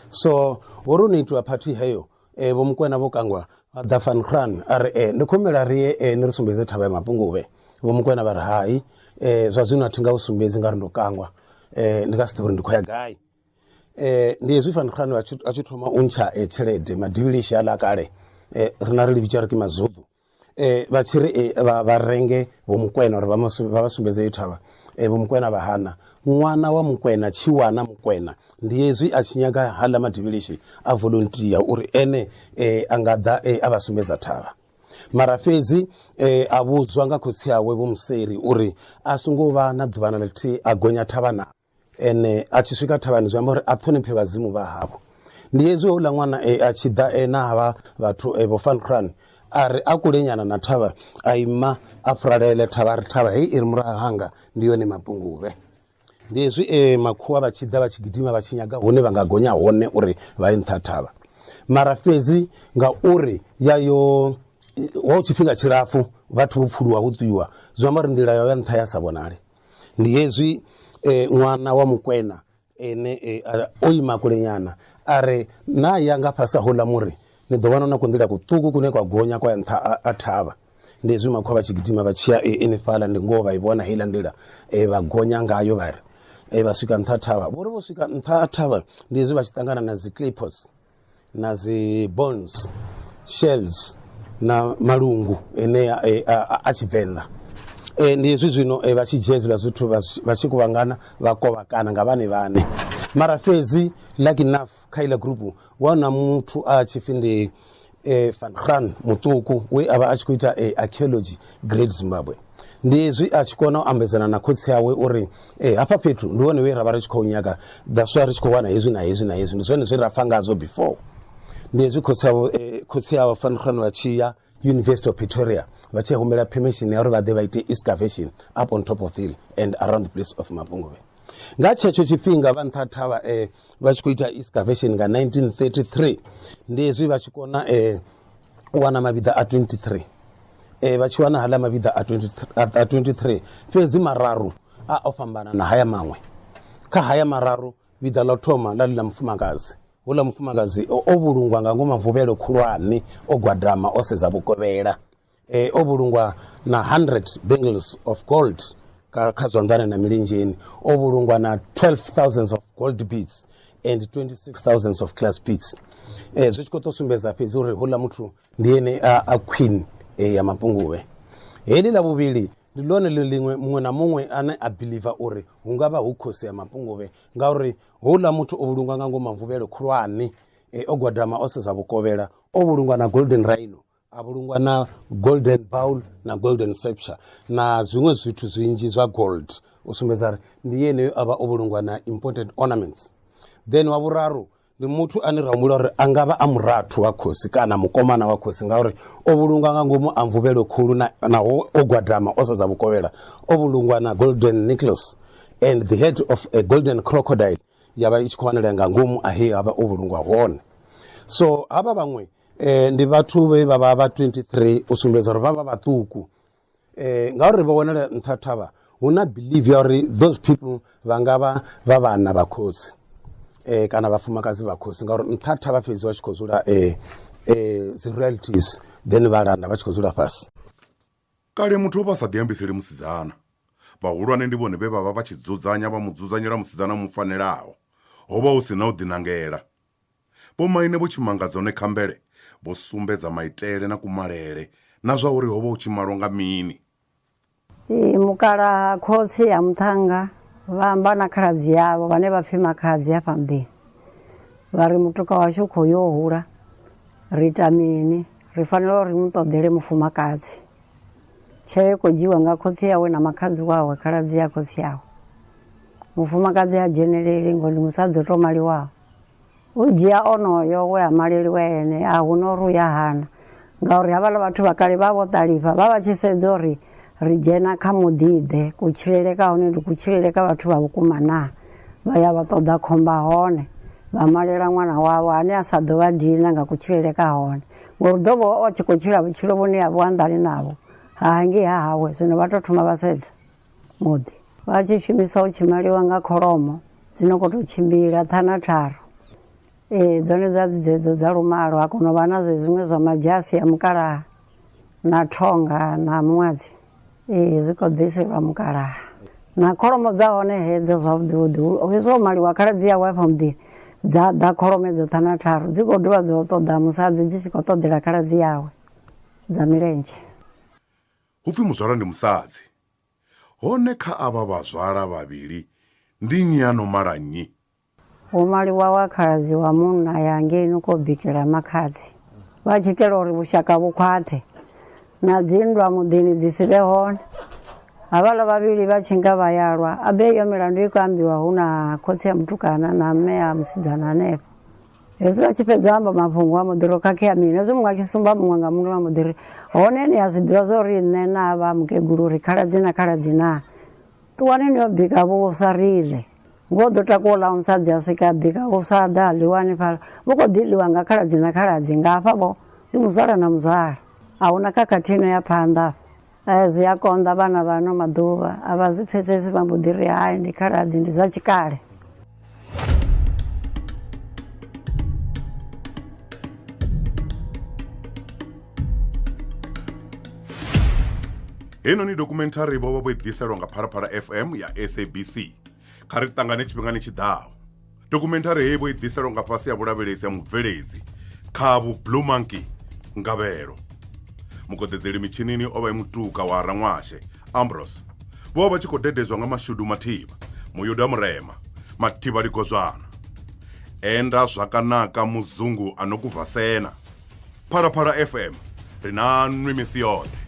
so ho ri no itiwa party heyo eh, vho mukwena vho kangwa vha ḓa fan khulwane a ri eh, ndi khomela ri ye eh, ni ri sumbedze thavha ya mapunguvhe vho mukwena vha ri hai eh, zwa zwino a thi nga u sumbedzi nga ri ndo kangwa eh, ndi nga si ḓivha uri ndi khou ya gai eh ndi hezwi fani khano a tshi a tshi thoma u ntsha eh, tshelede madivhilishi a ḽa kale eh rina ri livhitsa ri ki mazudu eh vha tshi ri eh, vha vha renge vho mukwena uri vha masu- vha vha sumbedze yo thavha eh vho mukwena vha hana ṅwana wa mukwena tshi wana mukwena ndi hezwi a tshi nyaga haḽa madivhilishi a volunteer uri ene eh a nga ḓa eh, a vha sumbedza thavha mara fhedzi eh, a vhudzwa nga khotsi awe vho museri uri a songo vha na ḓuvha na ḽithihi a gonya thavha na ene a tshi swika thavhani zwi amba uri a ṱhoniphe vhadzimu vha havho ndi hezwi houḽa ṅwana e a tshi ḓa e na havha vhathu e vho fankran a ri a kulenyana na thavha a ima a furalele thavha ri thavha hei i ri murahu hanga ndi yone mapunguvhe ndi hezwi e makhuwa vha tshi ḓa vha tshi gidima vha tshi nyaga hune vha nga gonya hone uri vha ye nṱha thavha mara fhedzi ngauri ya yo ho tshifhinga tshilapfhu vhathu vho pfuluwa ho ṱuiwa zwi amba uri nḓila yo ya nṱha ya sa vhonali Ndi hezwi e, ṅwana wa mukwena ene e, a- o ima kulenyana a re na ya nga fhasi houḽa muri ni ḓo vhona na ku nḓila kuṱuku kune kwa gonya kwa ya nṱha a- a thavha ndi hezwi makhwa vha tshi gidima vha tshiya e, enefhaḽa ndi ngoho vha i vhona heiḽa nḓila e, vha gonya ngayo vha ri e, vha swika nṱha ha thavha vho ri vho swika nṱha ha thavha ndi hezwi vha tshi ṱangana na dzi clippos na dzi bones shells na malungu enea e, a, a, a tshivenḓa e, ndi hezwi zwino e, vha tshi dzhia hezwiḽa zwithu vha zwi- vha tshi kuvhangana vha kovhakana nga vhane vhane mara fhedzi lucky enough kha iḽa gurupu wana muthu a tshi pfi ndi e, van gran muṱuku we a vha a tshi khou ita e, archaeology great zimbabwe ndi hezwi a tshi kona u ambedzana na khotsi awe uri e hafha fhethu ndi hone we ra vha ri tshi khou nyaga daswa ri tshi khou wana hezwi na hezwi na hezwi ndi zwone zwe ra fa ngazwo before ndi hezwi khotsi awo eh, khotsi awo fankhano vha tshi ya university of pretoria vha tshi humela permission ya uri vha ḓe vha ite excavation up on top of hill and around the place of mapunguvhe nga tshetsho tshifhinga vha nṱha thavha eh, vha tshi khou ita excavation nga 1933 ndi hezwi vha tshi kona eh, u wana mavhiḓa a 23 e, vha tshi wana hala mavhiḓa a 23 fhedzi mararu a o fhambana na haya maṅwe kha haya mararu vhiḓa ḽa thoma ḽa ḽi ḽa mufumakadzi hula mufumakadzi o vhulungwa nga ngomu mavuvhelo khulwane o gwadama o sedza vhukovhela e, o vhulungwa na 100 bangles of gold kha zwanḓani na milinzheni o vhulungwa na 12 thousands of gold beats and 26 thousands of class pits eh, zwi tshi khou tou sumbedza fhedzi uri houḽa muthu ndi ene a, a queen eh, ya mapunguvhe heḽi ḽa vhuvhili ndi ḽone ḽi ḽiṅwe muṅwe na muṅwe ane a biliva uri hu nga vha hu khosi ya mapunguvhe ngauri houḽa muthu o vhulungwa nga ngomu mvuvhelo khulwane eh, o gwadama o sedza vhukovhela o vhulungwa na golden rhino a vhulungwa na golden bowl na golden septure na zwiṅwe zwithu zwinzhi zwa gold u sumbedza uri ndi yeneyo a vha o vhulungwa na important ornaments then wa vhuraru ndi muthu ane ra humbula uri a nga vha a murathu wa khosi kana mukomana wa khosi ngauri o vhulungwa nga ngomu a mvuvhelo khulu na- naho o gwadama o sedza vhukovhela o vhulungwa na golden necklace and the head of a golden crocodile ya vha i tshi khou wanalea nga ngomu ahe a vha o vhulungwa hone so havha vhaṅwe eh, ndi vhathu vhe vha vha vha 23 u sumbedza uri vha vha vhaṱuku eh, ngauri vha wanala nṱha thavha hu na believe ya uri those people vha nga vha vha vhana vha khosi eh, kana vhafumakadzi vha khosi ngauri nṱha thavha fhedzi vha tshi khou dzula eh, eh, dzi realities then vha landa vha tshi khou dzula fhasi kale muthu o vha sa ḓiambiseli musidzana vhahulwane ndi vhone vhe vha vha vha tshi dzudzanya vha mu dzudzanyela musidzana mu fanelaho ho vha hu si na u ḓinangela Vhomaine vho tshimangadza hone kha mvele vho sumbedza maitele na kumalele na zwa uri ho vha hu tshi malwa nga mini. Ee, mukalaha khotsi ya muṱhannga vha amba na khaladzi yavho vhane vha pfi makhadzi hafha muḓini vha ri mutuka washu u khou yo hula ri ita mini ri fanela uri mu ṱoḓele mufumakadzi tsheo i khou dzhiwa nga khotsi yawe na makhadzi wawe khaladzi ya khotsi yawe mufumakadzi ha dzheneleli ngo ndi musadzi o tou maliwaho U dzhia onoyo we a maleliwa ene a hu no ri u ya hana ngauri havhaḽa vhathu vha kale vha vho ṱalifha vha vha tshi sedza uri ri dzhena kha muḓiḓe kutshilele ka hone ndi kutshilele ka vhathu vha vhukuma na vha ya vha ṱoḓa khomba hone vha malela ṅwana wavho ane a sa ḓo vha dina nga kutshilele ka hone ngori ḓo vha o tshi khou tshila vhutshilo vhune ha vho anḓani navho ha ngei ha hawe zwino vha to thoma vha sedza. muḓi vha tshi shumisa u tshimaliwa nga kholomo dzi no khou tou tshimbila ṱhana tharu ee dzone dza dzi dzedzo dza lumalo ha kona u vha na zwiṅwe zwa madzhasi a mukalaha na thonga na muṅwadzi ee zwi khou ḓiselwa mukalaha na kholomo dza hone hedzo zwavhuḓi vhuḓi hezwo maliwa khala dzi ya wife muḓini dza ḓa kholomo edzo ṱhana tharu dzi khou dovha dzo ṱoḓa musadzi dzi tshi khou ṱoḓela khala dzi yawe dza milenzhe Hu pfi muzwala ndi musadzi. Hone kha avha vhazwala vhavhili ndi nnyi a no mala nnyi? Ho maliwa wa khaladzi wa munna a ya ngei no kou bikela makhadzi vha tshi itela uri vhushaka vhu khwaṱhe na dzinndwa muḓini dzi si vhe hone. Havhaḽa vhavhili vha tshi nga vha ya lwa, a be iyo milandu i khou ambiwa hu na khotsi a mutukana na mme a musidzana hanefho. hezwi vha tshi fhedza u amba mafhungo a muḓiri o khakhea mini hezwi muṅwe a tshi sumba muṅwe nga muṅwe wa muḓiri hone ni a zwi ḓivha zwa uri nṋe na vha mukegulu uri khaladzi na khaladzi na ṱuwani ni yo bika vhuswa rile ngo ḓo takuwa ḽa musadzi a swika a bika vhuswa a ḓa a ḽiwa hanefhala vhu khou ḓi ḽiwa nga khaladzi na khaladzi nga hafha vho ndi muzwala na muzwala a huna khakhathi ino ya phanḓa Eh, zwi a konḓa vhana vha ano maḓuvha a vha zwi pfesesi vha mbo ḓi ri hai ndi khaladzi ndi zwa tshikale heinoni dokumenthari vho vha vho i ḓiselwa nga phalaphala fm ya sabc kha ri ṱangane tshifhingani tshi ḓaho Dokhumenthari heyi vho i ḓiselwa nga fhasi ha vhulavhelesi ha mubveledzi khavhu Blue Monkey Ngavhelo. Mukoḓedzeli mitshinini o vha e mutuka wa Ranwashe Ambrose. Vho vha vha tshi khou dededzwa nga Mashudu Mathiba, Muyuda Murema, Mathiba Ligozwana, Enda Zwakanaka Muzungu a no Kuvhasena. phalaphala fm ri na nwi misi yoṱhe